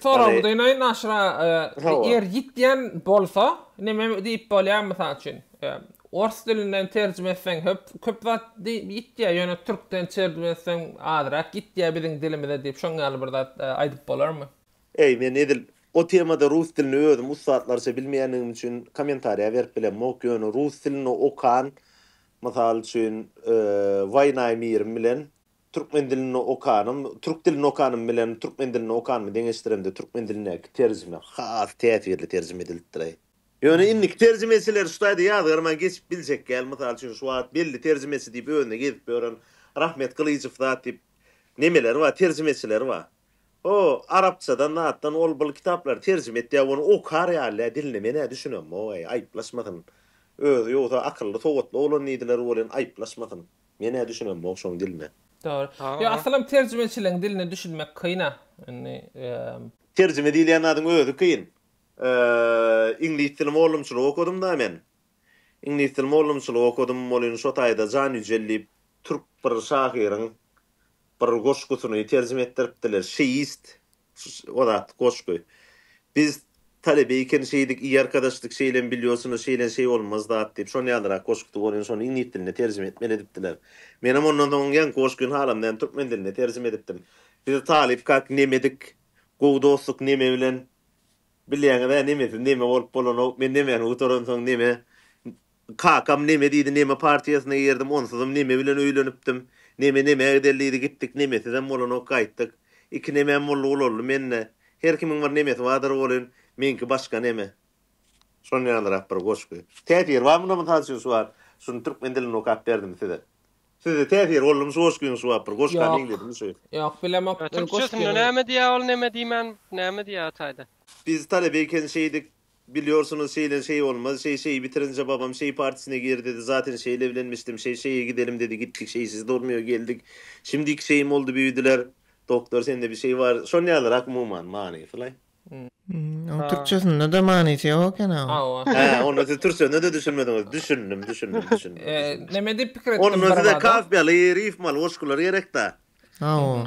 Soragy Ony. dynayyn Naşyr aga. Hawa. Eger ýitýän bolsa neme diýip bolýar mysal üçin? Ors dilinden terjime etseň höp köp zat diýip ýitýär, ýöne türkden terjime etseň azrak ýitýär biziň dilimize diýip şoň ýaly bir zat aýdyp bolarmy? Eý, men edil o temada rus dilini özüm ussatlarça bilmeýänligim üçin kommentariýa berip bilemok, ýöne rus dilini okan Mysal üçin, Waýnaý Mirim bilen türkmen dilini okanym, türk dilini okanym bilen türkmen dilini okanymy deňeşdiremde türkmen dilindäki terjime has täsirli terjime edilipdir-aý. Ýöne indiki terjimeçiler şu taýda ýazgarman geçip biljek däl. Mysal üçin, şu wagt belli terjimeçi diýip özüne gezip ýören Rahmet Gylyjow zat diýip nemeleri bar, terjimeçileri bar. O, arapçadan zatdan ol bul kitaplary terjime etýä ony okar ýalya diline menä düşünemmoý aýyplaşmasyn özi ýogsa akylly sowatly oglan diýdiler welin aýyplaşmasyn menä düşünemmoý şoň diline. Dogry. Ýok asylam terjimeçileň diline düşünmek kyna. Indi. Terjime diýilýän zadyň özi kyn. Iňlis dili mollumçylyk okadym da men. Iňlis dili mollumçylyk okadym welin şo taýda Jan Ýüjel diýip türk bir şahyryň Bir goşgusyny terjime etdiripdiler. Şeýist o zat goşgy. Biz talebe eken şeýdik i arkadoş dik şeýlen bilýosynda şeýlen şeý bolmaz zat diýip şon ýalyrak goşgusy bor ýöne şony iňlis diline terjime etmeli edipdiler. Menem ondan soň ýaňky goşgyny halamdan türkmen diline terjime edipdim. Biz talyp kak nemedik gowy dostluk neme bilen bilýäňiz-ä nemesiz neme bolup bolanok men nemeni gutaransoň neme Kakam neme diýdi neme partiýasyna girdim onsuzam neme bilen öýlenipdim. Neme nemä gideli diýdi gitdik nemesizem bolanok gaýtdyk. Iki nemem boldy ulaldy mende. Her kimiň bir nemesi bardyr welin meňki başga neme. Şon ýalyrak bir goşgy. Täsiri bar munda mysal üçin şu wagt şuny türkmen dilinde okap berdim size. Sizde täsiri boldymy şu goşgyň şu wagt bir goşga meňzedimi şu. Ýok bilemok goşgyny. Türkçesinde näme diýä ol neme diýmän näme diýä taýda. Biz talebe eken şeýdik Bilýorsunyz, şeýlen şeý bolmaz. Şeý şeýi bitirince babam şeý partisine gir dedi. Zaten şeýle evlenmişdim. Şeý şeýe gidelim dedi. Gitdik. Şeýsiz durmuyor. Geldik. Şimdiki şeýim boldy büyüdiler. Doktor sende bir şeý bar. Şon ýalyrak umuman manysylaý. Oň türkçesinde-de manysy ýok ekena oň. Hä, onda siz türkçesine-de düşünmediňiz. Düşündim, düşündim, düşündim, düşündim. Näme diýip pikir etdim bir bada? Onda size kafýaly, rifmaly goşgular gerek-da. Hawa.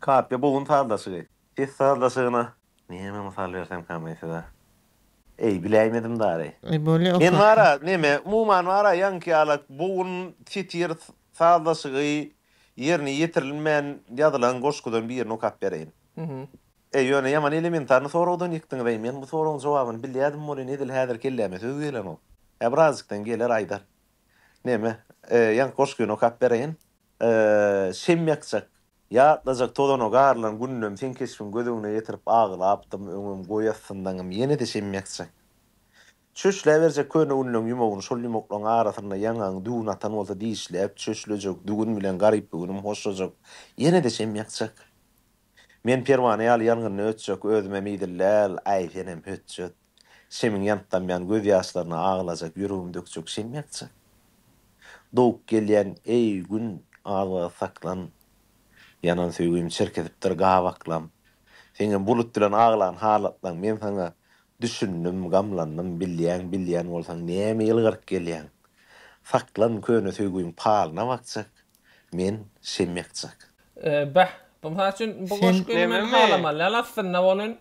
Kapyýa bogun sazlaşygy. Ses sazlaşygyna näme mysal bersemka men size? Eý, biläýmedim dary. Men bar-a, neme, umuman bar-a ýaňky ýala bogun, titir, sazlaşygy ýerine ýetirilmän ýazylan goşgudan birini okap bereýin. E, ýöne ýaman elementarny soragdan ýykdyňyz-eý, men bu soragyň jogabyny bilýädim welin, edil häzir kelläme söz gelenok. Ä, birazjykdan geler, aýdar. Neme, ýaňky goşgyny okap bereýin. Şem ýakjak, ýatlajak tozana garylan gününem seň keşbiň göz öňüne getirip aglapdym, öňem, goý astyndaňam ýene-de şem ýakjak. Çöşläberjek köne günleň ýumagyny şol ýumaklaň arasynda ýaňagyň düwün atan bolsa dişläp, çöşlejek, düwün bilen garyp bu günüm hoşlajak, ýene-de şem ýakjak. Men perwana ýaly ýangynyna ötjek özümem idil däl, aý senem hötjet. Şemiň ýanyp damýan göz ýaşlaryna aglajak ýüregim dökjek şem ýakja. Dowup gelýän eý Gün az wagt saklan. Ýanan söýgim çirkesipdir gabaklam. Seňem bulut bilen aglan halatlaň men saňa düşündim gamlandym bilýäň bilýän bolsaň näme ýylgyryp gelýäň. Saklan köne söýgüň palyna bakjak. Men şemekjak. Beh, bu mysal üçin bu goşgyny men halamalýan aslynda welin.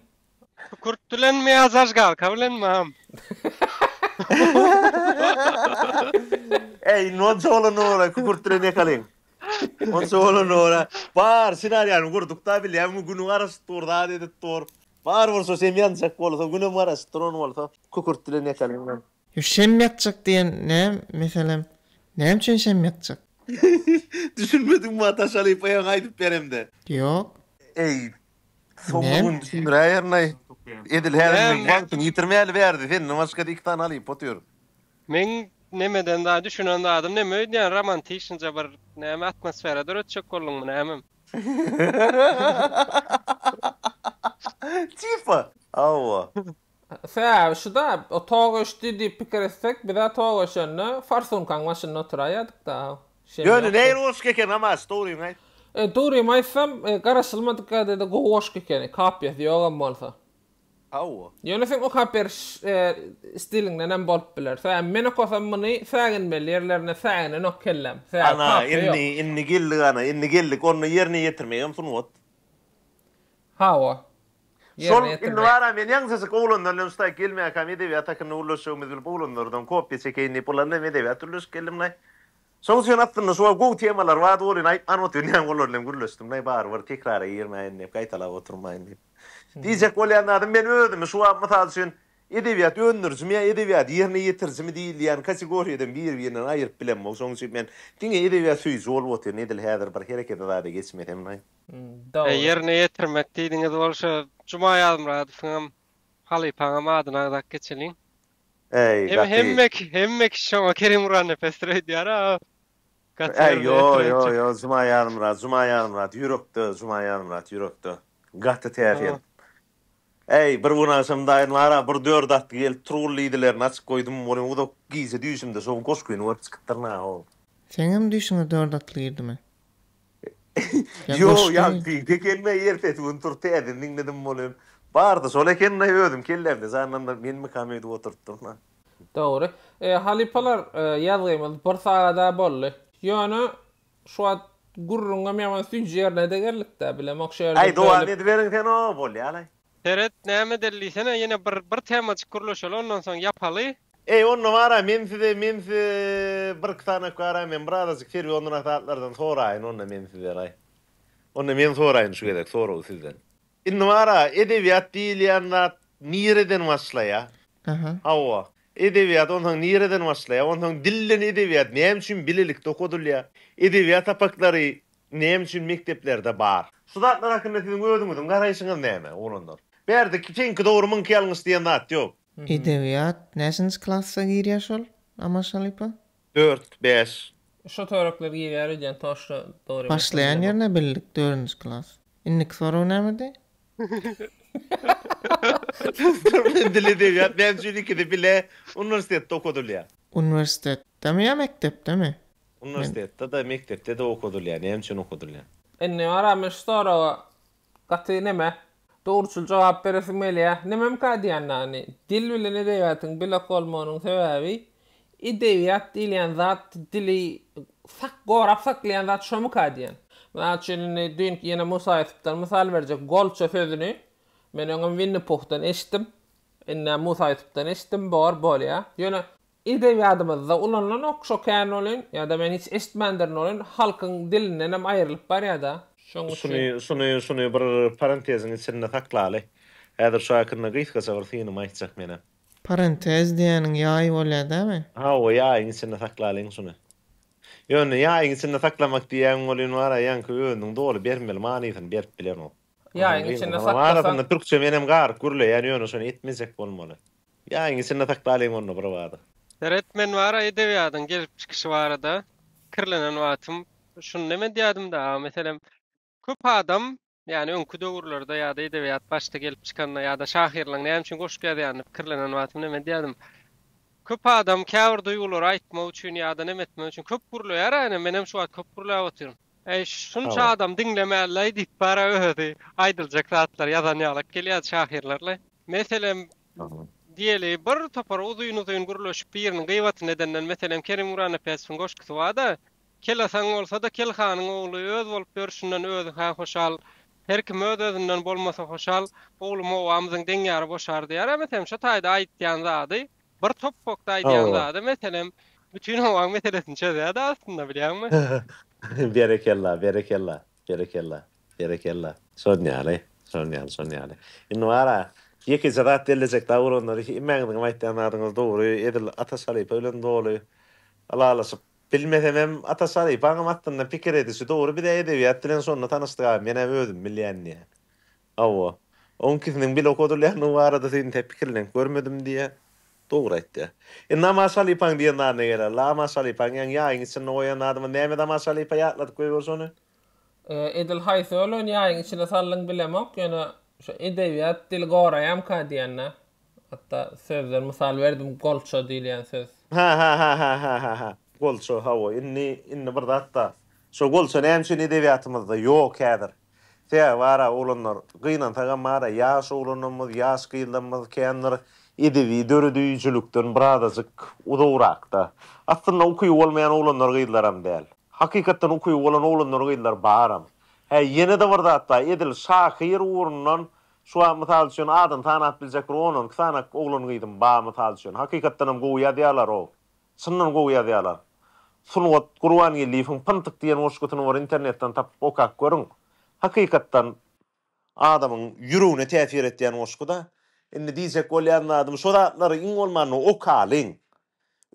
Kükürt bilenmi ýa zažgalka bilenmi agam? Eý, onça bolanda bolay, kükürt bilen ýakalyň. Onça bolanda bolay. Bar, senariýany gurduk-da, bilýäňmi, Gün garaşyp dur, zat edip dur. Bar bolsa, şem ýanjak bolsa, Günem garaşyp dur, ony bolsa kükürt bilen ýakalyň. Ýo şem ýakjak diýen nä meselem näme üçin şem ýakjak. Düşünmedim muňa Taşalypaýaň aýdyp beremde. Ýok. Eý soňky gün düşündiräýerinaý edil häzir men wagtyňy ýitirmäli bärde senden başgada iki sany halypa otyr. Meň nemeden da düşünen zadym neme öýdýän romantişnja bir näme atmosfera döretjek bolduňmy nämem. Tipa. Hawa. Sebäbi şu-da, tok öçdi diýip pikir etsek, biz-ä tok öçende forsunkaň başynda oturaýýadyk-da. Şem Ýöne ýokdy. nähili goşgy eken, Namaz, dogryňy aýt? E, dogrymy aýtsam, garaşylmadyk ýagdaýda gowy goşgy ekeni, kopýasy ýok hem bolsa. Hawa. Ýöne seň okap beriş stiliňden hem bolup biler. Sebäbi men okasam muny säginmeli ýerlerine säginenok kellem. Sebäbi kopýa ýok. Ana, indi, indi geldik, ana, indi geldik. Onda ýerine ýetirmegem sungat. Hawa. Şol Ýerine indi ýetirjek. bar-a, men ýaňsyjyk oglanlar bilen şutaýyk gelmäkäm edebiýat hakynda gürleşjegimizi bilip oglanlardan kopýa çekeýin diýip olar bilen hem edebiýat gürleşip geldim-laý. Şoň üçin aslynda şuwagt gowy temalar bardy welin aýtman otyrynam olar bilen gürleşdim-laý barybir tekrara girmäýin diýip, gaýtalap oturmaýyn diýip. Diýjek bolýan zadym men özümi şu wagt mysal üçin edebiýat öndürijimi ýa edebiýat ýerine ýetirijimi diýilýän kategoriýadan bir-birinden aýyryp bilemok. Şoň üçin men diňe edebiýat söýüji bolup otyryn edil häzir bir herekede zada geçmesemlaý. Dogry. Ýerine ýetirmek diýdiňiz bolşo Juma Ýazmyradowyňam halypaňam adyny agzap geçeliň. Äý gaty. Hemme hemme kişi şoňa Kerim Gurannepesdir öýdýär-a. Äý ýo ýo ýo Juma Ýazmyrat Juma Ýazmyrat ýürekde Juma Ýazmyrat ýürekde. Gaty täsin. Äý bir gün agşam daýym bar-a bir dört atly gelip Turgul lidilerini açyp goýdum ony uzak gije düýşümde şo goşgyny görüp çykypdyryn-a howw. Seňem düýşüňe dört atly girdimi? Ýa Ýo, goşgy. ýa pide gelme ertesi gün turup täzeden diňledim bolem. Bardy şol ekeni özüm kellämde janlandyryp menmikam öýdüp oturtdym. Dogry. E, halypalar, e, ýazgymyz bir sagat-a boldy. Ýöne, şu wagt gürrüňem ýaman süýji ýerine-de geldik-dä, bilemok şu ýerde Aý, dowam bölüp. ediberiň sen o, bolýalaý. Seret näme edeli diýsene ýene bir bir temajyk gürleşeli ondan soň ýapaly. Eý onda bara men size men size bir iki sany ökde ara men bir azajyk serwionrak zatlardan soraýyn onda men sizdenaý. Onda men soraýyn şu gezek soragy sizden. Indi bara edebiýat diýilýän zat nireden başlaýar? Hawa. Edebiýat onsoň nireden başlaýar? Onsoň dilden edebiýat näme üçin bilelikde okadylýar? Edebiýat sapaklary Näme üçin mekdeplerde bar? Şu zatlar hakynda siziň özüňiziň garaýşyňyz näme, oglanlar? Bärde iki çeňki dogry müňki ýalňyş diýen zat ýok. Edebiýat näçinji klassa girýär şol Amaş halypa? Dört, bäş. Şo törekler girýär öýdýän toşda dogry emesmi Başlaýan bilemok. ýerine bildik dördünji klas. Indiki sorag nämedi? Türkmen dili edebiýat näme üçin ikisi bile uniwersitetde okadylýar? Uniwersitetdemi ýa mekdepdemi? Uniwersitetde-de, mekdepde-de okadylýar, näme üçin okadylýar? Indi maňa men şu soraga gaty neme, dogruçyl jogap beresim gelýär. Nememikä diýýän ýagny, dil bilen edebiýatyň bir ok bolmagynyň sebäbi, edebiýat diýilýän zat dili sak gorap saklaýan zat şomukä diýýän. Mysal üçin indi düýnki ýene Musa Ýusupdan mysal berjek, golça sözüni men öňem Winni Puhdan eşitdim, indi-ä Musa Ýusupdan eşitdim, bor, bolýar. Ýöne Edebiýadymyzda ulanlanok şo kän welin, ýa-da men hiç eşitmändirin welin, halkyň dilindenem aýrylyp barýa-da. Şoň üçin. Şuny, şuny bir parenteziň içinde saklaly. Häzir şu hakynda gysgaça bir synymy aýtjak menem. Parentez diýeniň ýaý bolýa dämi? Hawa, ýaýyň içinde saklalyň şuny. Ýöne ýaýyň içinde saklamak diýýän welin bar-a, ýaňky özüniň doly bermeli manysyny berip bilenok. Ýaýyň içinde saklasaň. Arasynda türkçe menem garyp gürleýän, ýöne şony etmejek bolmaly. Ýa iňlisinde sakdalyň onda birbada. Seret men bara edebiýadyň gelip çykyşy barada pikirlenen wagtym şuny neme diýädimda aga meselem köp adam ýani öňki döwürlerde ýada edebiýat başda gelip çykanda ýada şahyrlaň näme üçin goşgy ýazýanyny pikirlenen wagtym neme diýädim köp adam käbir duýgulary aýtmak üçin ýada neme etmek üçin köp gürleýär a ine menem şu wagt köp gürläp otyryn. Eý, şunça adam diňlemänläý diýip bar-a özi. Aýdyljak zatlar ýazan ýalak gelýärdi şahyrlar-laý. Meselem, diýeli, bir topar uzyn-uzyn gürleşip biriniň gybatyny edenden, meselem, Kerim Guranapesowyň goşgusy bar-da, Kel asaň bolsa-da, kel hanyň ogly öz bolup ýörşünden özi-hä hoşal, her kim öz-özünden bolmasa hoşal, oglum-ow, amzyň deňýary boşar diýär-ä, meselem, şo taýda aýtýan zady. Bir top pokda aýdýan Hawa. zady meselem bütin howaň meselesini çözýärdi aslynda bilýäňmi? Berekella, berekella, berekella, berekella. Şon ýaly, şon ýaly, şon ýaly. Indi bar-a, ýekeje zat bellejek dagy bolanlar üçin hemmäňiziňem aýtýan zadyňyz dogry, edil Ataş halypa bilen doly ylalaşyp bilmesem hem, Ataş halypaňam aslynda pikir edişi dogry, biz-ä edebiýat bilen şonda tanyşdyk-a, men-ä özüm bilýän diýýä. Hawa. Oňkisiniň bile okadylýandygy barada seni tä pikirlenip görmedim diýýä. Dogry aýtýa. E namaz şalypaň diýen zat ne gerek? Lama şalypaň ýaň ýaýyň içinde goýan zadyma näme namaz şalypa ýatladyp goýberse ony? E edil haýsy ölen ýaýyň içine saldyň bilemok, ýöne şu edebiýat dili goraýamka diýende, hatda sözden mysal berdim golço diýilýän söz. Hä-hä-hä-hä-hä-hä-hä. Golço, hawa, indi, indi bir zat-da. Şo golço näme üçin edebiýatymyzda ýok häzir? Tä bar-a, oglanlar, gynansagam bar-a, ýaş oglanymyz, ýaş gyzlamyz kän bir edebi döredijilikden birazajyk uzagrakda. Aslynda ukyby bolmaýan oglanlar-gyzlaram däl. Hakykatdan ukyby bolan oglanlar-gyzlar baram. Hä, ýene-de bir zat bar, edil şahyr ugrundan şu wagt, mysal üçin, adyny sanap biljek bir on-on iki sany oglan-gyzym bar, mysal üçin. Hakykatdanam gowy ýazýarlar-ow. Çyndan gowy ýazýarlar. Sungat Gurbangeldiýewiň Pyntyk diýen goşgusyny bir internetden tapyp okap görüň. Hakykatdan adamyň ýüregine täsir etýän goşguda. Indi diýjek bolýan zadym şu zatlary iň bolmanda okalyň.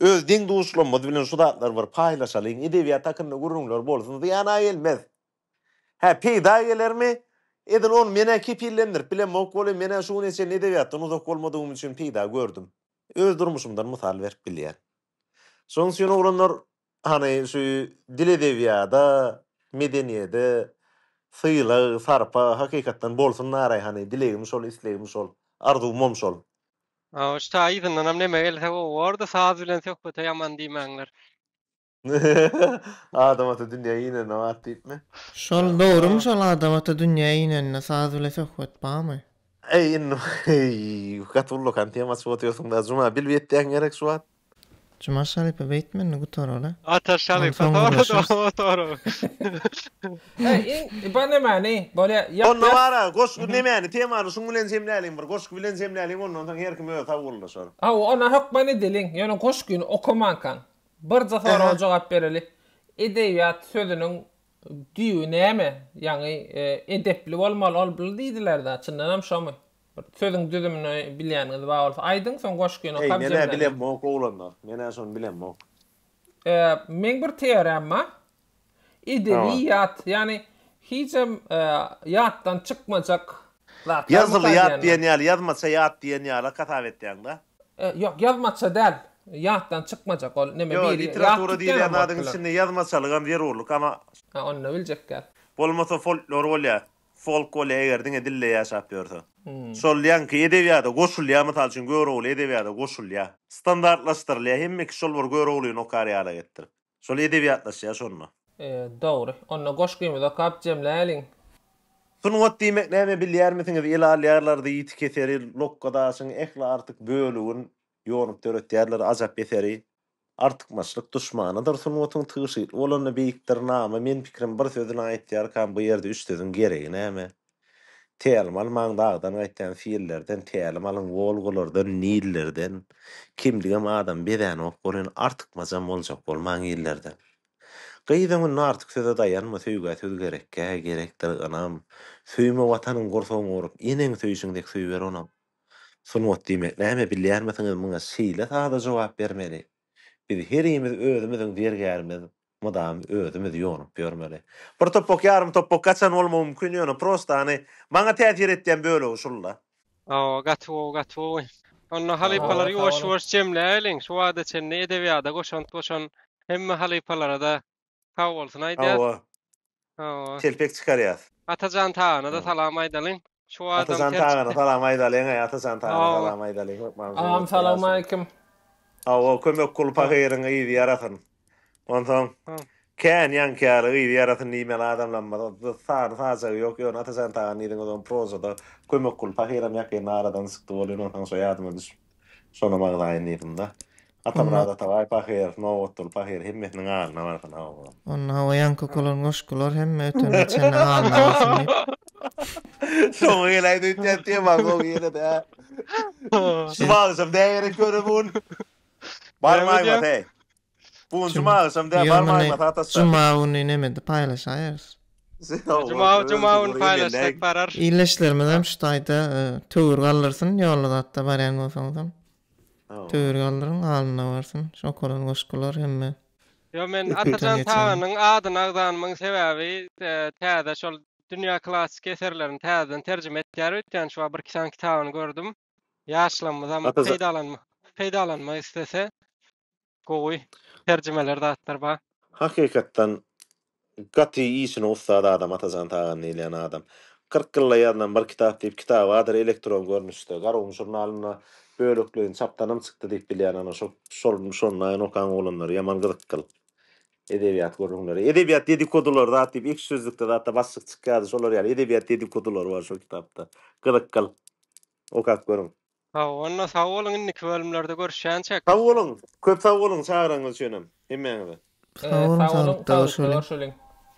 Öz deň duşlarymyz bilen şu zatlary bir paýlaşalyň. Edebiýat hakynda gürrüňler bolsun zyýana gelmez. Hä peýda gelermi? Edil ony menä kepillendirip bilemok welin menä şu güne çenli edebiýatdan uzak bolmadygym üçin peýda gördüm. Öz durmuşymdan mysal berip bilýän. Şonuň üçin oglanlar hany şu dil edebiýada, medeniýede sylag, sarpa hakykatdan bolsun naray hany dilegim şol islegim şol arzuwmam şol. Aw şta yzyndanam neme gelse gowy bordy saz bilen söhbete ýaman diýmäňler. Adam ata dünýä inende bar diýipmi? Şol dogrymy şol adam ata dünýä inende saz bile söhbet barmy. Eý indi eý gaty ullakan tema açyp otyrsyň da Juma bilip etýäň gerek şu wagt. Juma şalypa beýtme indi gutaraly. Ata şalypa soraşarys. Eý iň bar nämäni bolýa ýap ýap. Onda bara goşgy nämäni temany şuň bilen jemläliň bir goşgy bilen jemläliň ondan soň her kim özi sowguldaşar. Hawa ona hökman edeliň ýöne goşgyny okamankaň Birje soraga jogap bereli. Edebiýat sözüniň düýbi näme? Ýaňy edepli bolmaly olbly diýdiler-dä, çyndanam şomy? Bir sözüň düzümini bilýäniňiz bar bolsa aýdyň, soň goşgyny Heý, okap men-ä jemleneýin. bilemok oglanlar, men-ä şony bilemok. Meň bir teoremma, Edebi ýat, ýagny hijem ýatdan çykmajak zatlar. Ýazgyly ýat diýen ýaly, ýazmaça ýat diýen ýala hasap etýäň-dä? Ýok, ýazmaça däl. Ýatdan çykmajak ol neme bir. Ýok, literatura diýilýän zadyň içinde ýazmaçalygam zerurlyk, ama. Ha, onda biljek däl. Bolmasa folklor bolýa, folk bolýa, eger diňe dilde ýaşap ýörse. Şol ýaňky edebiýada goşulýa, mysal üçin, Görogly edebiýada goşulýa. Standartlaşdyrylýa, hemme kişi şol bir Göroglyny okar ýala etdirip. Şol edebiýatlaşýar şonda. E, dogry. Onda goşgymyzy okap jemläliň. Sungat diýmek näme bilýärmisiňiz? Ele alýarlardy ýiti keseri, lokga daşyň ähli artyk bölegin ýonup döretýärler ajap eseri. Artykmaçlyk duşmanydyr sungatyň tygşytly bolanda beýikdir name men pikrim bir sözüni aýtýarkam bu ýerde üç sözüň geregi näme? Tälim almaň dagdan gaýtýan fillerden tälim alyň wolgalardan nillerden kimdigem adam bezänok bolýan artykmajam boljak bolmaň illerden gyz öňünde artyk söze daýanma söýgä söz gerekkä gerekdir ynam söýme watanyň gursagyň gurup eneň söýşiň dek söýber onam sungat diýmek näme bilýärmisiňiz muňa şeýle sada jogap bermeli biz herimiz özümiziň zergärimiz Mydam özümiz ýonup ýörmeli. Bir topbak ýarym topbak gaçan bolmagy mümkin ýöne prosta hany maňa täsir etýän bölegi şulda. Awa gaty gowy gaty gowy. Onda halypalary ýuwaş ýuwaş jemläýeliň şu wagta çenli edebiýada goşant goşan hemme halypalarada sag bolsun aýdýas. Hawa. Hawa. Telpek çykarýas. Atajan Tagana-da salam aýdalyň. Şu adam Atajan ter Tagana salam aýdalyň-aý, Atajan Tagana Hawa. salam aýdalyň, hökman gowy Agam bolup salam gelsin. aleýkum. Hawa, kömek kul pahyryň yzy ýarasyn. Onsoň, Ha. kän ýaňky ýaly yzy ýarasyn diýmeli adamlammyz. Dy sany sajagy ýok, ýöne Atajan Taganyň yzyny özem prozada kömek kul pahyram ýakynda aradan çykdy bolýan, onsoň şo ýadyma düşüp. Şonam agzaýyn yzynda. Atamyrat Atabaý pahyr, Nobatguly pahyr hemmesiniň alyna barsyn hawa. Onda hawa ýaňky okulan goşgular hemme öten geçeniň alyna barsyn diýip. Soňy geleýdi öýtýän tema soňy geledi hä. Şumal şum dägerek ýöne bu gün. Barmaýmaz heý. Bu gün juma agşam däl barma aýma saat Juma güni nemede paýlaşaýarys. Juma juma güni paýlaşsak barar. Illeşlerimiz hem şu taýda töwir galdyrsyn ýolly zatda barýan bolsaňyzam. Töwir galdyryň alnyna barsyn şu okalan goşgular hemme. Ýok men Atajan Taganyň adyny agzanymyň sebäbi täze şol dünýä klassyk eserlerini täzeden terjime etýär öýtýän şu wagt bir iki sany kitabyny gördüm. Ýaşlarymyzam Gaty za- peýdalanma peýdalanmak islese gowy terjimeler zatlar bar. Hakykatdan gaty işine ussat adam Atajan Tagan diýilýän adam. Kyrk ýylda ýazylan bir kitap diýip kitaby adyr elektron görnüşde Garagum žurnalynda bölekleýin çapdanam çykdy diýip bilýän ana şo şol şondaýyn okan oglanlar ýaman gyzykgyl edebiýat gürrüňleri edebiýat dedikodolary zat diýip ekşi sözlükde zatda başlyk çykýardy şolar ýaly edebiýat dedikodolary bar şo kitapda gyzykgyl okap görüň. Hawa onda sag boluň indiki bölümlerde görüşýänçek. Sag boluň, köp sag boluň çagyranyňyz üçinem hemmäňize. Sag boluň saglyk saglyk görüşeliň.